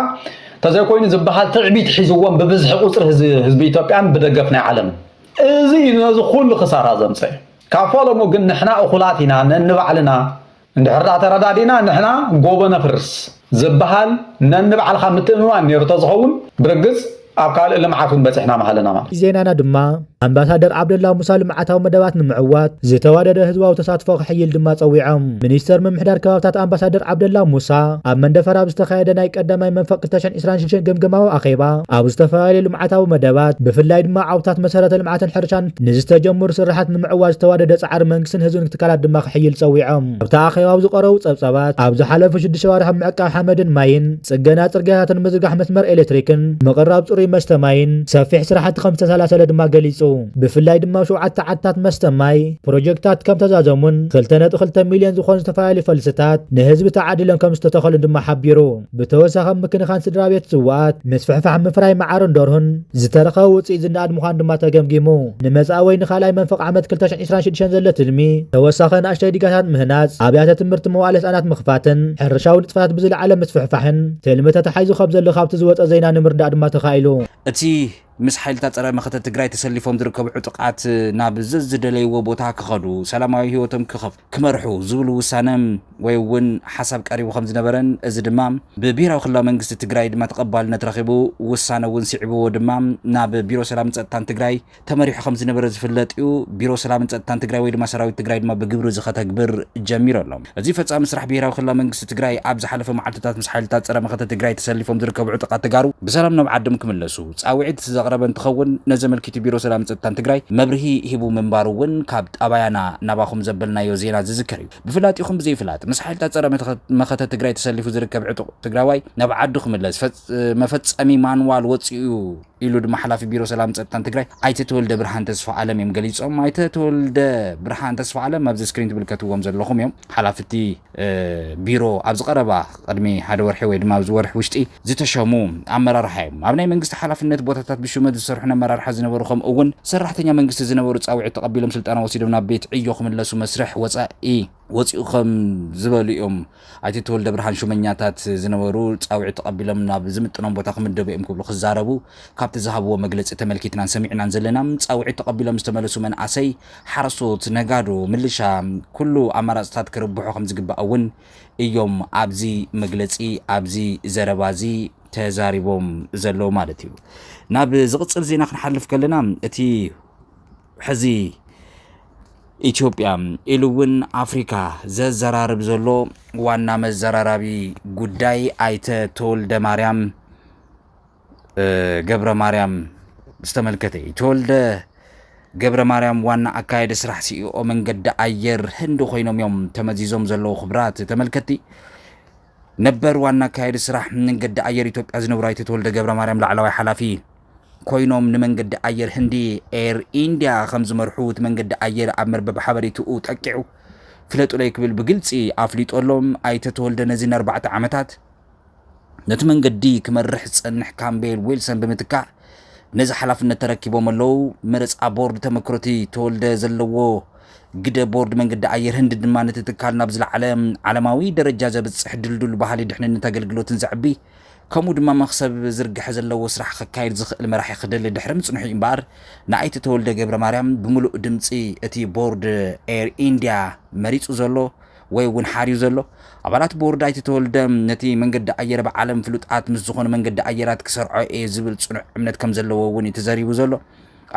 ተዘይኮይኑ ዝበሃል ትዕቢት ሒዝዎም ብብዝሒ ቁጽሪ ህዝቢ ኢትዮጵያን ብደገፍ ናይ ዓለምን። እዚ እዩ ነዚ ኩሉ ክሳራ ዘምጸኤ። ካብ ፈለሙ ግን ንሕና እኹላት ኢና ነንባዕልና እንድሕር ድኣ ተረዳዲእና ንሕና ጎቦ ነፍርስ ዝብሃል ነንባዕልኻ ምትእምማን ነይሩ ተዝኸውን ብርግጽ ኣብ ካልእ ልምዓት እውን በጺሕና ምሃለና ማለት እዩ። ዜናና ድማ ኣምባሳደር ዓብደላ ሙሳ ልምዓታዊ መደባት ንምዕዋት ዝተዋደደ ህዝባዊ ተሳትፎ ክሕይል ድማ ጸዊዖም። ሚኒስተር ምምሕዳር ከባብታት ኣምባሳደር ዓብደላ ሙሳ ኣብ መንደፈራ ኣብ ዝተኻየደ ናይ ቀዳማይ መንፈቅ ክልተሸን ዕስራን ሽድሽተን ገምገማዊ ኣኼባ ኣብ ዝተፈላለዩ ልምዓታዊ መደባት ብፍላይ ድማ ዓውድታት መሰረተ ልምዓትን ሕርሻን ንዝተጀመሩ ስርሓት ንምዕዋት ዝተዋደደ ፃዕሪ መንግስትን ህዝብን ትካላት ድማ ክሕይል ፀዊዖም። ኣብቲ ኣኼባ ኣብ ዝቐረቡ ፀብፃባት ኣብ ዝሓለፉ ሽዱሽተ ኣዋርሕ ኣብ ምዕቃብ ሓመድን ማይን፣ ፅገና ፅርግያታትን ምዝርጋሕ መስመር ኤሌክትሪክን፣ ምቕራብ ፅሩይ መስተ ማይን ሰፊሕ ስራሕቲ ከምዝተሳላሰለ ድማ ገሊፁ። ብፍላይ ድማ ኣብ ሸውዓተ ዓድታት መስተ ማይ ፕሮጀክትታት ከምተዛዘሙን ክልተ ነጥቢ ክልተ ሚሊየን ዝኾኑ ዝተፈላለዩ ፈልስታት ንህዝቢ ተዓዲሎም ከምዝተተኸሉን ድማ ሓቢሩ። ብተወሳኺ ኣብ ምክንኻን ስድራቤት ዝዋኣት፣ ምስፍሕፋሕ ምፍራይ መዓርን ደርሁን፣ ዝተረኸበ ውፅኢት ዝነኣድ ምዃኑ ድማ ተገምጊሙ። ንመፃኢ ወይ ንካልኣይ መንፈቕ ዓመት ክልተ ሽሕን ዕስራን ሽዱሽተን ዘሎ ትልሚ፣ ተወሳኺ ኣናእሽተይ ዲጋታት ምህናፅ፣ ኣብያተ ትምህርቲ መዋእለ ህፃናት ምኽፋትን ሕርሻዊ ንጥፈታት ብዝለዓለ ምስፍሕፋሕን ትልሚ ተታሒዙ ከም ዘሎ ካብቲ ዝወፀ ዜና ንምርዳእ ድማ ተኻኢሉ። እቲ ምስ ሓይልታት ፀረ መኸተ ትግራይ ተሰሊፎም ዝርከቡ ዕጡቓት ናብ ዘዝደለይዎ ቦታ ክኸዱ፣ ሰላማዊ ህይወቶም ክኸፍ፣ ክመርሑ ዝብሉ ውሳነ ወይ እውን ሓሳብ ቀሪቡ ከም ዝነበረን እዚ ድማ ብብሄራዊ ክልላዊ መንግስቲ ትግራይ ድማ ተቐባልነት ረኺቡ ውሳነ እውን ስዒብዎ ድማ ናብ ቢሮ ሰላምን ፀጥታን ትግራይ ተመሪሑ ከም ዝነበረ ዝፍለጥ እዩ። ቢሮ ሰላምን ፀጥታን ትግራይ ወይ ድማ ሰራዊት ትግራይ ድማ ብግብሪ እዚ ከተግብር ጀሚሩ ኣሎ። እዚ ፈፃሚ ስራሕ ብሄራዊ ክልላዊ መንግስቲ ትግራይ ኣብ ዝሓለፈ መዓልቲታት ምስ ሓይልታት ፀረ መኸተ ትግራይ ተሰሊፎም ዝርከቡ ዕጡቓት ተጋሩ ብሰላም ናብ ዓዶም ክምለሱ ፃውዒት ዘቕረበ እንትኸውን፣ ነዚ ኣመልኪቱ ቢሮ ሰላምን ፀጥታን ትግራይ መብርሂ ሂቡ ምንባሩ እውን ካብ ጣባያና ናባኹም ዘበልናዮ ዜና ዝዝከር እዩ። ብፍላጢኹም ብዘይፍላጥ ምስ ሓይልታት ፀረ መኸተ ትግራይ ተሰሊፉ ዝርከብ ዕጡቕ ትግራዋይ ናብ ዓዱ ክምለስ መፈፀሚ ማንዋል ወፂኡ እዩ ኢሉ ድማ ሓላፊ ቢሮ ሰላምን ፀጥታን ትግራይ ኣይተ ተወልደብርሃን ተስፋኣለም እዮም ገሊፆም። ኣይተ ተወልደብርሃን ተስፋኣለም ኣብዚ ስክሪን ትምልከትዎም ዘለኹም እዮም ሓላፊ እቲ ቢሮ ኣብዚ ቀረባ ቅድሚ ሓደ ወርሒ ወይ ድማ ኣብዚ ወርሒ ውሽጢ ዝተሸሙ ኣመራርሓ እዮም። ኣብ ናይ መንግስቲ ሓላፍነት ቦታታት ብሹመት ዝሰርሑን ኣመራርሓ ዝነበሩ ከምኡ እውን ሰራሕተኛ መንግስቲ ዝነበሩ ፃውዒት ተቐቢሎም ስልጠና ወሲዶም ናብ ቤት ዕዮ ክምለሱ መስርሕ ወፃኢ ወፂኡ ከም ዝበሉ እዮም። ኣይተ ተወልደብርሃን ሹመኛታት ዝነበሩ ፃውዒት ተቐቢሎም ናብ ዝምጥኖም ቦታ ክምደቡ እዮም ክብሉ ክዛረቡ ካብቲ ዝሃብዎ መግለፂ ተመልኪትናን ሰሚዕናን ዘለና። ፃውዒት ተቐቢሎም ዝተመለሱ መንኣሰይ ሓረስቶት፣ ነጋዶ፣ ምልሻ ኩሉ ኣማራፅታት ክርብሑ ከምዝግባእ እውን እዮም ኣብዚ መግለፂ ኣብዚ ዘረባ እዚ ተዛሪቦም ዘለዉ ማለት እዩ። ናብ ዝቕፅል ዜና ክንሓልፍ ከለና እቲ ሕዚ ኢትዮጵያ ኢሉ እውን ኣፍሪካ ዘዘራርብ ዘሎ ዋና መዘራራቢ ጉዳይ ኣይተ ተወልደ ማርያም ገብረ ማርያም ዝተመልከተ እዩ። ተወልደ ገብረ ማርያም ዋና ኣካየዲ ስራሕ ሲኢኦ መንገዲ ኣየር ህንዲ ኮይኖም እዮም ተመዚዞም ዘለዉ ክብራት ተመልከቲ ነበር ዋና ኣካየዲ ስራሕ መንገዲ ኣየር ኢትዮጵያ ዝነብሩ ኣይተ ተወልደ ገብረ ማርያም ላዕለዋይ ሓላፊ ኮይኖም ንመንገዲ ኣየር ህንዲ ኤር ኢንድያ ከም ዝመርሑ እቲ መንገዲ ኣየር ኣብ መርበብ ሓበሬትኡ ጠቂዑ ፍለጡለይ ክብል ብግልፂ ኣፍሊጦሎም ኣይተ ተወልደ ነዚ ንኣርባዕተ ዓመታት ነቲ መንገዲ ክመርሕ ዝጸንሕ ካምቤል ዊልሰን ብምትካእ ነዚ ሓላፍነት ተረኪቦም ኣለዉ። መረጻ ቦርድ ተመክሮቲ ተወልደ ዘለዎ ግደ ቦርድ መንገዲ ኣየር ህንዲ ድማ ነቲ ትካል ናብ ዝለዓለ ዓለማዊ ደረጃ ዘብጽሕ ድልዱል ባህሊ ድሕንነት ኣገልግሎትን ዘዕቢ ከምኡ ድማ መኽሰብ ዝርግሐ ዘለዎ ስራሕ ከካይድ ዝኽእል መራሒ ክደሊ ድሕሪ ምጽንሑ እምበኣር ንኣይተ ተወልደ ገብረማርያም ብምሉእ ድምጺ እቲ ቦርድ ኤር ኢንድያ መሪጹ ዘሎ ወይ እውን ሓርዩ ዘሎ፣ ኣባላት ቦርድ ኣይተ ተወልደ፣ ነቲ መንገዲ ኣየር ኣብ ዓለም ፍሉጣት ምስ ዝኾኑ መንገዲ ኣየራት ክሰርዖ እየ ዝብል ፅኑዕ እምነት ከምዘለዎ እውን እዩ ተዘሪቡ ዘሎ።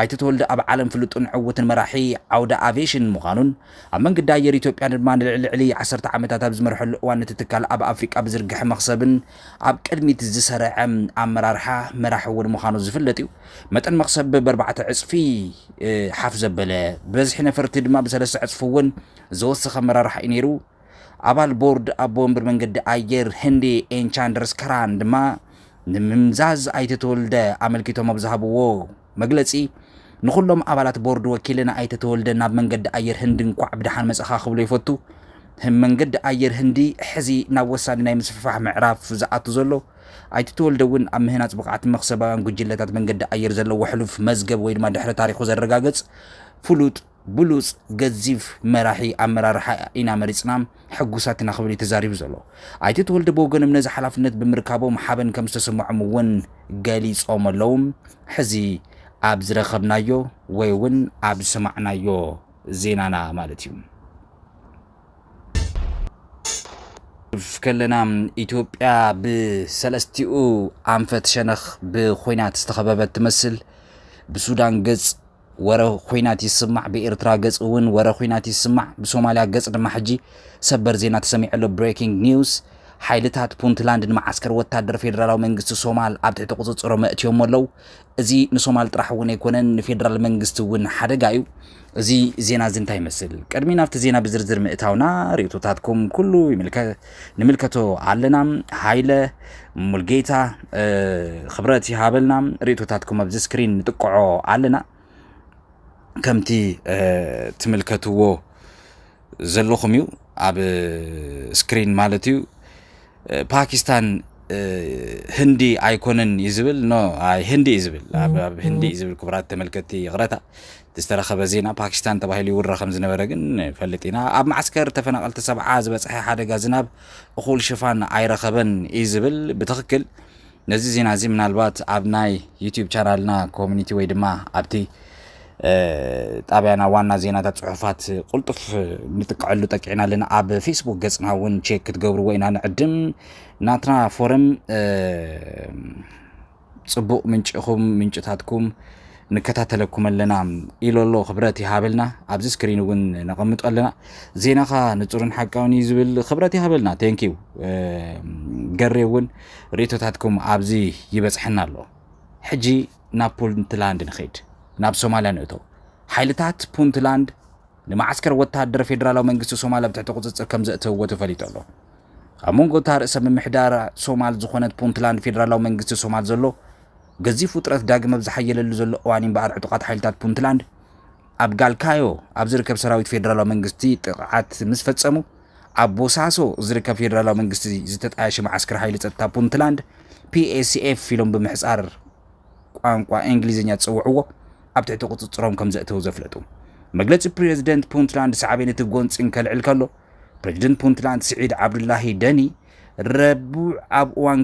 ኣይተ ተወልደ ኣብ ዓለም ፍሉጥን ዕውትን መራሒ ዓውደ ኣቪዬሽን ምዃኑን ኣብ መንገዲ ኣየር ኢትዮጵያ ድማ ንልዕሊ ዓሰርተ ዓመታት ኣብ ዝመርሐሉ እዋን ነቲ ትካል ኣብ ኣፍሪቃ ብዝርግሐ መኽሰብን ኣብ ቅድሚት ዝሰርዐ ኣመራርሓ መራሒ እውን ምዃኑ ዝፍለጥ እዩ። መጠን መኽሰብ በርባዕተ ዕፅፊ ሓፍ ዘበለ፣ ብበዝሒ ነፈርቲ ድማ ብሰለስተ ዕፅፊ እውን ዝወሰኸ ኣመራርሓ እዩ ነይሩ። ኣባል ቦርድ ኣቦ ወንበር መንገዲ ኣየር ህንዲ ኤን ቻንድርስ ከራን ድማ ንምምዛዝ ኣይተ ተወልደ ኣመልኪቶም ኣብ ዝሃብዎ መግለፂ ንኹሎም ኣባላት ቦርድ ወኪለ ንኣይተ ተወልደ ናብ መንገዲ ኣየር ህንዲ እንኳዕ ብደሓን መፀኻ ክብሎ ይፈቱ። መንገዲ ኣየር ህንዲ ሕዚ ናብ ወሳኒ ናይ ምስፍፋሕ ምዕራፍ ዝኣቱ ዘሎ ኣይተ ተወልደ እውን ኣብ ምህናፅ ብቕዓት መኽሰባውያን ጉጅለታት መንገዲ ኣየር ዘለዎ ሕሉፍ መዝገብ ወይ ድማ ድሕረ ታሪኹ ዘረጋግፅ ፍሉጥ ብሉፅ ገዚፍ መራሒ ኣመራርሓ ኢና መሪፅና ሕጉሳት ኢና ክብል እዩ ተዛሪቡ ዘሎ። ኣይተ ተወልደ ብወገኖም ነዚ ሓላፍነት ብምርካቦም ሓበን ከምዝተሰመዖም እውን ገሊፆም ኣለው። ሕዚ ኣብ ዝረኸብናዮ ወይ እውን ኣብ ዝሰማዕናዮ ዜናና ማለት እዩ። ከለና ኢትዮጵያ ብሰለስቲኡ ኣንፈት ሸነኽ ብኩናት ዝተኸበበት ትመስል። ብሱዳን ገፅ ወረ ኹናት ይስማዕ ብኤርትራ ገጽ እውን ወረ ኹናት ይስማዕ ብሶማልያ ገጽ ድማ ሕጂ ሰበር ዜና ተሰሚዑ ኣሎ Breaking News ሓይልታት ፑንትላንድ ንመዓስከር ወታደር ፌደራላዊ መንግስቲ ሶማል ኣብ ትሕቲ ቁጽጽሮም ኣእትዮሞ ኣለው እዚ ንሶማል ጥራሕ እውን ኣይኮነን ንፌደራል መንግስቲ እውን ሓደጋ እዩ እዚ ዜና እዚ እንታይ ይመስል ቅድሚ ናብቲ ዜና ብዝርዝር ምእታውና ርእቶታትኩም ኩሉ ይምልከት ንምልከቶ ኣለና ሃይለ ሙልጌታ ክብረት ይሃበልና ርእቶታትኩም ኣብዚ ስክሪን ንጥቅዖ ኣለና ከምቲ ትምልከትዎ ዘለኹም እዩ ኣብ ስክሪን ማለት እዩ ፓኪስታን ህንዲ ኣይኮነን እዩ ዝብል ኖ ህንዲ እዩ ዝብል ኣብ ህንዲ እዩ ዝብል ክቡራት ተመልከትቲ ይቕረታ ዝተረኸበ ዜና ፓኪስታን ተባሂሉ ይውረ ከም ዝነበረ ግን ንፈልጥ ኢና። ኣብ መዓስከር ተፈናቐልቲ ሰብዓ ዝበፀሐ ሓደጋ ዝናብ እኹል ሽፋን ኣይረኸበን እዩ ዝብል ብትኽክል ነዚ ዜና እዚ ምናልባት ኣብ ናይ ዩቲዩብ ቻናልና ኮሚኒቲ ወይ ድማ ኣብቲ ጣብያና ዋና ዜናታት ፅሑፋት ቁልጡፍ ንጥቀዐሉ ጠቂዕና ኣለና ኣብ ፌስቡክ ገፅና እውን ቼክ ክትገብርዎ ኢና ንዕድም ናትና ፎረም ጽቡቅ ምንጪ ኢኹም ምንጭታትኩም ንከታተለኩም ኣለና ኢሎ ኣሎ ክብረት ይሃበልና ኣብዚ ስክሪን እውን ነቐምጦ ኣለና ዜናኻ ንጹርን ሓቃውን እዩ ዝብል ክብረት ይሃበልና ቴንኪዩ ገሬ እውን ርእቶታትኩም ኣብዚ ይበጽሐና ኣሎ ሕጂ ናብ ፑንትላንድ ንኸይድ ናብ ሶማልያ ንእቶ ሓይልታት ፑንትላንድ ንመዓስከር ወተሃደር ፌደራላዊ መንግስቲ ሶማል ኣብ ትሕቲ ቁጽጽር ከምዘእተውዎ ተፈሊጡ ኣሎ። ኣብ መንጎ እታ ርእሰ ምምሕዳር ሶማል ዝኾነት ፑንትላንድ ፌደራላዊ መንግስቲ ሶማል ዘሎ ገዚፍ ውጥረት ዳግም ኣብ ዝሓየለሉ ዘሎ እዋን እምበኣር ዕጡቓት ሓይልታት ፑንትላንድ ኣብ ጋልካዮ ኣብ ዝርከብ ሰራዊት ፌደራላዊ መንግስቲ ጥቕዓት ምስ ፈጸሙ ኣብ ቦሳሶ ዝርከብ ፌደራላዊ መንግስቲ ዝተጣየሸ መዓስከር ሓይሊ ጸጥታ ፑንትላንድ ፒኤስኤፍ ኢሎም ብምሕጻር ቋንቋ እንግሊዝኛ ዝፅውዕዎ ኣብ ትሕቲ ቁፅፅሮም ከም ዘእተው ዘፍለጡ መግለፂ ፕሬዝደንት ፑንትላንድ ሳዕቤን እቲ ጎንፂ እንከልዕል ከሎ ፕሬዝደንት ፑንትላንድ ስዒድ ዓብዱላሂ ደኒ ረቡዕ ኣብ እዋን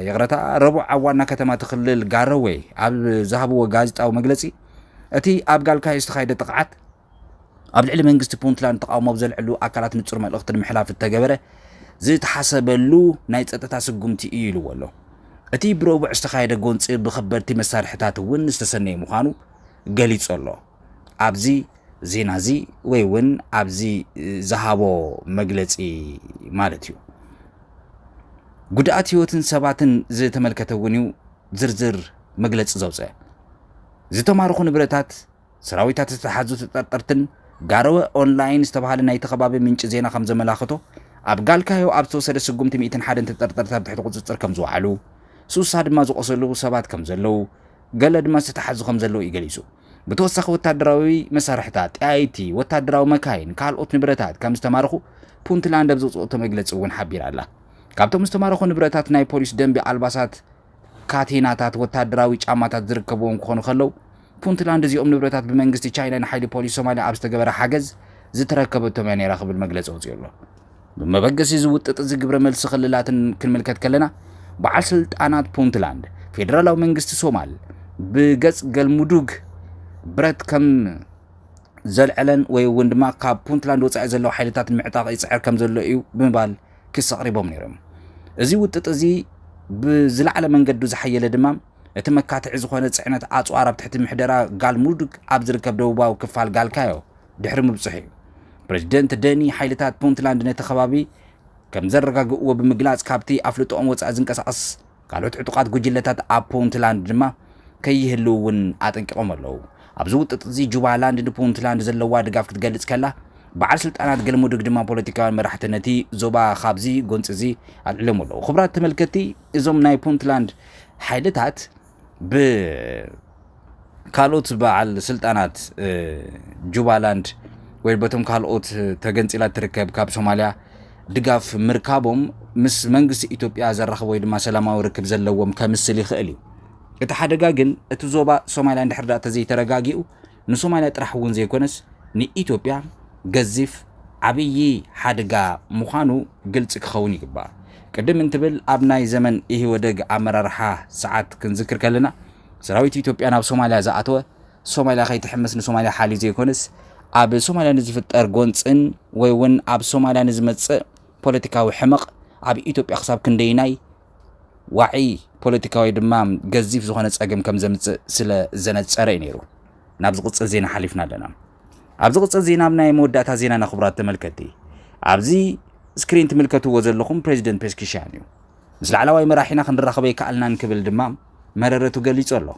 ይቕረታ ረቡዕ ኣብ ዋና ከተማ እቲ ክልል ጋሮዌ ኣብ ዝሃብዎ ጋዜጣዊ መግለፂ እቲ ኣብ ጋልካዮ ዝተኻየደ ጥቕዓት ኣብ ልዕሊ መንግስቲ ፑንትላንድ ተቓውሞ ኣብ ዘልዕሉ ኣካላት ንጹር መልእኽቲ ንምሕላፍ እተገበረ ዝተሓሰበሉ ናይ ጸጥታ ስጉምቲ እዩ ኢልዎ ኣሎ። እቲ ብረቡዕ ዝተኻየደ ጎንጺ ብከበድቲ መሳርሒታት እውን ዝተሰነየ ምዃኑ ገሊጹ ኣሎ። ኣብዚ ዜና እዚ ወይ እውን ኣብዚ ዝሃቦ መግለጺ ማለት እዩ። ጉድኣት ህይወትን ሰባትን ዝተመልከተ እውን እዩ ዝርዝር መግለጺ ዘውፅአ። ዝተማረኹ ንብረታት ሰራዊታት ዝተታሕዙ ተጠርጠርትን ጋሮወ ኦንላይን ዝተባሃለ ናይቲ ከባቢ ምንጪ ዜና ከም ዘመላኽቶ፣ ኣብ ጋልካዮ ኣብ ዝተወሰደ ስጉምቲ ሚእትን ሓደን ተጠርጠርቲ ኣብ ትሕቲ ቁጽጽር ከም ዝወዓሉ፣ ስሳ ድማ ዝቖሰሉ ሰባት ከም ዘለዉ፣ ገለ ድማ ዝተታሕዙ ከም ዘለዉ እዩ ገሊጹ። ብተወሳኺ ወታደራዊ መሳርሕታት፣ ጠያይቲ፣ ወታደራዊ መካይን፣ ካልኦት ንብረታት ከም ዝተማረኹ ፑንትላንድ ኣብ ዘውጽኦቶ መግለጺ እውን ሓቢራ ኣላ። ካብቶም ዝተማረኹ ንብረታት ናይ ፖሊስ ደንቢ ኣልባሳት፣ ካቴናታት ወተሃደራዊ ጫማታት ዝርከብዎም ክኾኑ ከለው፣ ፑንትላንድ እዚኦም ንብረታት ብመንግስቲ ቻይና ንሓይሊ ፖሊስ ሶማልያ ኣብ ዝተገበረ ሓገዝ ዝተረከበቶም እያ ነይራ ክብል መግለጺ ኣውጺኡ ኣሎ። ብመበገሲ እዚ ውጥጥ እዚ ግብረ መልሲ ክልላትን ክንምልከት ከለና፣ በዓል ስልጣናት ፑንትላንድ፣ ፌደራላዊ መንግስቲ ሶማል ብገጽ ገልሙዱግ ብረት ከም ዘልዐለን ወይ እውን ድማ ካብ ፑንትላንድ ወጻኢ ዘለው ሓይልታት ንምዕጣቕ ይጽዕር ከም ዘሎ እዩ ብምባል ክሲ ኣቕሪቦም ነይሮም። እዚ ውጥጥ እዚ ብዝለዓለ መንገዱ ዝሓየለ ድማ እቲ መካትዒ ዝኾነ ጽዕነት ኣጽዋር ኣብ ትሕቲ ምሕደራ ጋልሙዱግ ኣብ ዝርከብ ደቡባዊ ክፋል ጋልካዮ ድሕሪ ምብጽሑ እዩ። ፕረዚደንት ደኒ ሓይልታት ፑንትላንድ ነቲ ከባቢ ከምዘረጋግእዎ ብምግላጽ ካብቲ ኣፍልጦኦም ወጻኢ ዝንቀሳቐስ ካልኦት ዕጡቓት ጉጅለታት ኣብ ፑንትላንድ ድማ ከይህልዉ እውን ኣጠንቂቖም ኣለዉ። ኣብዚ ውጥጥ'ዚ ጁባላንድ ንፑንትላንድ ዘለዋ ድጋፍ ክትገልጽ ከላ፣ በዓል ስልጣናት ገልሙዱግ ድማ ፖለቲካውያን መራሕቲ ነቲ ዞባ ካብዚ ጎንጺ'ዚ ኣልዒሎምዎ ኣለዉ። ክቡራት ተመልከትቲ፣ እዞም ናይ ፑንትላንድ ሓይልታት ብ። ካልኦት በዓል ስልጣናት ጁባላንድ ወይ በቶም ካልኦት ተገንፂላ እትርከብ ካብ ሶማልያ ድጋፍ ምርካቦም ምስ መንግስቲ ኢትዮጵያ ዘራኽብ ወይ ድማ ሰላማዊ ርክብ ዘለዎም ከምስል ይኽእል እዩ እቲ ሓደጋ ግን እቲ ዞባ ሶማልያ እንድሕር ዳኣ ተዘይተረጋጊኡ ንሶማልያ ጥራሕ እውን ዘይኮነስ ንኢትዮጵያ ገዚፍ ዓብዪ ሓደጋ ምዃኑ ግልፂ ክኸውን ይግባእ። ቅድም እንትብል ኣብ ናይ ዘመን ኢህወደግ ኣመራርሓ ሰዓት ክንዝክር ከለና ሰራዊት ኢትዮጵያ ናብ ሶማልያ ዝኣተወ ሶማልያ ከይትሕምስ ንሶማልያ ሓልዩ ዘይኮነስ ኣብ ሶማልያ ንዝፍጠር ጎንፅን ወይ እውን ኣብ ሶማልያ ንዝመፅእ ፖለቲካዊ ሕመቕ ኣብ ኢትዮጵያ ክሳብ ክንደይናይ ዋዒ ፖለቲካዊ ድማ ገዚፍ ዝኾነ ጸገም ከም ዘምጽእ ስለ ዘነጸረ እዩ ነይሩ ናብ ዝቕጽል ዜና ሓሊፍና ኣለና ኣብ ዝቕጽል ዜና ኣብ ናይ መወዳእታ ዜና ነኽብራት ተመልከቲ ኣብዚ ስክሪን ትምልከትዎ ዘለኹም ፕሬዚደንት ፔስኪሻን እዩ ምስ ላዕላዋይ መራሒና ክንራኸብ ኣይከኣልናን ክብል ድማ መረረቱ ገሊጹ ኣሎ።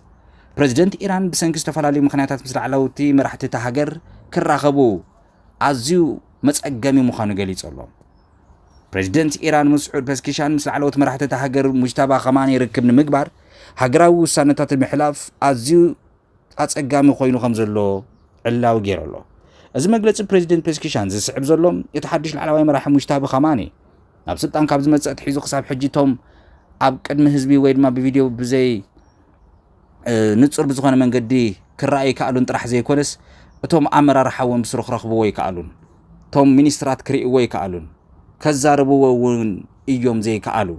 ፕረዚደንት ኢራን ብሰንኪ ዝተፈላለዩ ምኽንያታት ምስ ላዕለውቲ መራሕቲ እታ ሃገር ክራኸቡ ኣዝዩ መጸገሚ ምዃኑ ገሊጹ ኣሎ። ፕረዚደንት ኢራን መስዑድ ፐስኪሻን ምስ ላዕለዎት መራሕቲ እታ ሃገር ሙጅታባ ከማኒ ርክብ ንምግባር ሃገራዊ ውሳነታት ንምሕላፍ ኣዝዩ ኣጸጋሚ ኮይኑ ከም ዘሎ ዕላዊ ገይሩ ኣሎ። እዚ መግለጺ ፕሬዚደንት ፔስኪሻን ዝስዕብ ዘሎ እቲ ሓድሽ ላዕላዋይ መራሒ ሙጅታቢ ካማኒ ናብ ስልጣን ካብ ዝመጽእ ኣትሒዙ ክሳብ ሕጂ እቶም ኣብ ቅድሚ ህዝቢ ወይ ድማ ብቪድዮ ብዘይ ንጹር ብዝኾነ መንገዲ ክረኣዩ ይከኣሉን ጥራሕ ዘይኮነስ እቶም ኣመራርሓ እውን ብስሩ ክረኽብዎ ይከኣሉን እቶም ሚኒስትራት ክርእይዎ ይከኣሉን ከዛርብዎ እውን እዮም ዘይከኣሉ።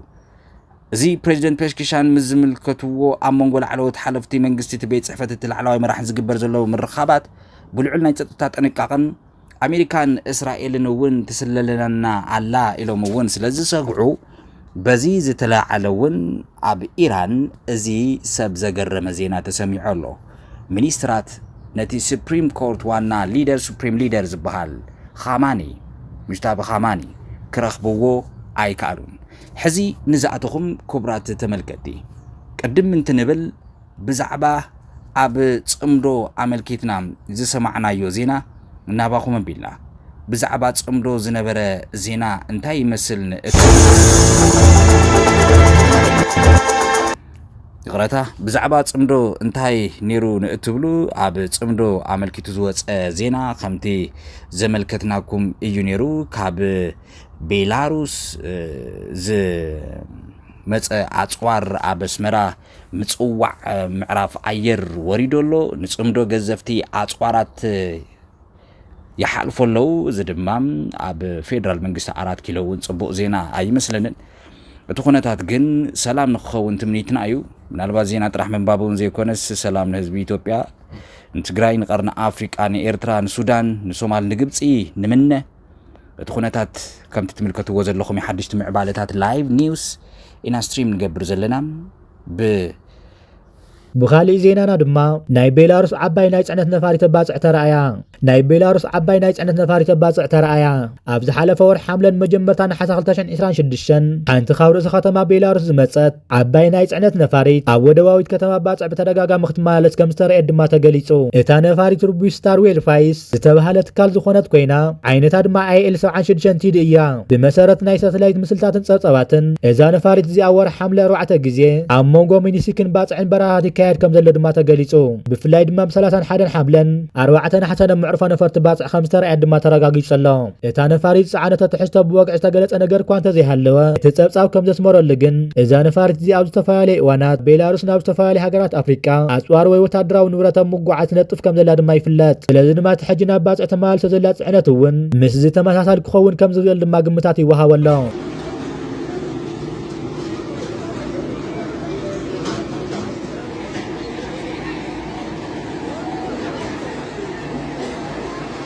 እዚ ፕሬዚደንት ፔሽኪሻን ምስ ዝምልከትዎ ኣብ መንጎ ላዕለዎት ሓለፍቲ መንግስቲ እቲ ቤት ፅሕፈት እቲ ላዕለዋይ መራሕን ዝግበር ዘሎ ምርኻባት ብልዑል ናይ ፀጥታ ጥንቃቐን ኣሜሪካን እስራኤልን እውን ትስለለና ኣላ ኢሎም እውን ስለዝሰግዑ በዚ ዝተለዓለ እውን ኣብ ኢራን እዚ ሰብ ዘገረመ ዜና ተሰሚዑ ኣሎ። ሚኒስትራት ነቲ ስፕሪም ኮርት ዋና ሊደር፣ Supreme Leader፣ ዝበሃል ኻማኒ፣ ሙጅታቢ ኻማኒ፣ ክረኽብዎ ኣይከኣሉን። ሕዚ ንዛዕትኹም ኩብራት ተመልከቲ ቅድም እንትንብል፣ ብዛዕባ ኣብ ጽምዶ ኣመልኪትና ዝሰማዕናዮ ዜና ናባኹም ኣቢልና። ብዛዕባ ጽምዶ ዝነበረ ዜና እንታይ ይመስል ንእትብሉ? ይቕረታ ብዛዕባ ጽምዶ እንታይ ነይሩ ንእትብሉ ኣብ ጽምዶ ኣመልኪቱ ዝወፀ ዜና ከምቲ ዘመልከትናኩም እዩ ነይሩ ካብ ቤላሩስ ዝመፀ ኣፅዋር ኣብ ኣስመራ ምጽዋዕ ምዕራፍ ኣየር ወሪዶ ኣሎ፣ ንጽምዶ ገዘፍቲ ኣጽዋራት ይሓልፎ ኣለዉ። እዚ ድማ ኣብ ፌደራል መንግስቲ ኣራት ኪሎ እውን ጽቡቕ ዜና ኣይመስለንን። እቲ ኩነታት ግን ሰላም ንክኸውን ትምኒትና እዩ ምናልባት ዜና ጥራሕ ምንባብ እውን ዘይኮነስ ሰላም ንህዝቢ ኢትዮጵያ ንትግራይ ንቀርኒ ኣፍሪቃ ንኤርትራ ንሱዳን ንሶማል ንግብፂ ንምነ እቲ ኩነታት ከምቲ ትምልከትዎ ዘለኹም ሓድሽቲ ምዕባለታት ላይቭ ኒውስ ኢና ስትሪም ንገብር ዘለና ብ ብኻሊእ ዜናና ድማ ናይ ቤላሩስ ዓባይ ናይ ፅዕነት ነፋሪ ተባፅዕ ተረኣያ ናይ ቤላሩስ ዓባይ ናይ ፅዕነት ነፋሪ ተባፅዕ ተረኣያ ኣብ ዝሓለፈ ወር ሓምለን መጀመርታ ነሓሰ 2026 ሓንቲ ካብ ርእሰ ከተማ ቤላሩስ ዝመፀት ዓባይ ናይ ጽዕነት ነፋሪት ኣብ ወደባዊት ከተማ ባጽዕ ብተደጋጋሚ ክትመላለስ ከም ዝተረእየት ድማ ተገሊጹ። እታ ነፋሪት ርቡሽ ስታር ዌርፋይስ ዝተበሃለ ትካል ዝኾነት ኮይና ዓይነታ ድማ ኣይኤል ሰብዓን ሽዱሽተን ቲዲ እያ። ብመሰረት ናይ ሳተላይት ምስልታትን ጸብጻባትን እዛ ነፋሪት እዚኣ ኣብ ወርሒ ሓምለ ኣርባዕተ ግዜ ኣብ መንጎ ሚኒሲክን ባጽዕን በረራታት ይካየድ ከም ዘሎ ድማ ተገሊጹ። ብፍላይ ድማ ብ ሰላሳን ሓደን ሓምለን ኣርባዕተ ነሓሰን ኣብ መዕርፎ ነፈርቲ ባጽዕ ከም ዝተረእየት ድማ ተረጋጊጹ ኣሎ። እታ ነፋሪት ዝጸዓነቶ ትሕዝቶ ብወግዒ ዝተገለጸ ነገር እኳ እንተዘይሃለወ፣ እቲ ጸብጻብ ከም ዘስመረሉ ግን፣ እዛ ነፋሪት እዚኣ ኣብ ዝተፈላለየ እዋናት ቤላሩስ ናብ ዝተፈላለያ ሃገራት ኣፍሪቃ ኣጽዋር ወይ ወተሃደራዊ ንብረት ኣብ ምጉዓዝ ትነጥፍ ከም ዘላ ድማ ይፍለጥ። ስለዚ ድማ እቲ ሕጂ ናብ ባጽዕ ተመላሊሳ ዘላ ጽዕነት እውን ምስዚ ተመሳሳሊ ክኸውን ከም ዝኽእል ድማ ግምታት ይወሃቦ ኣሎ።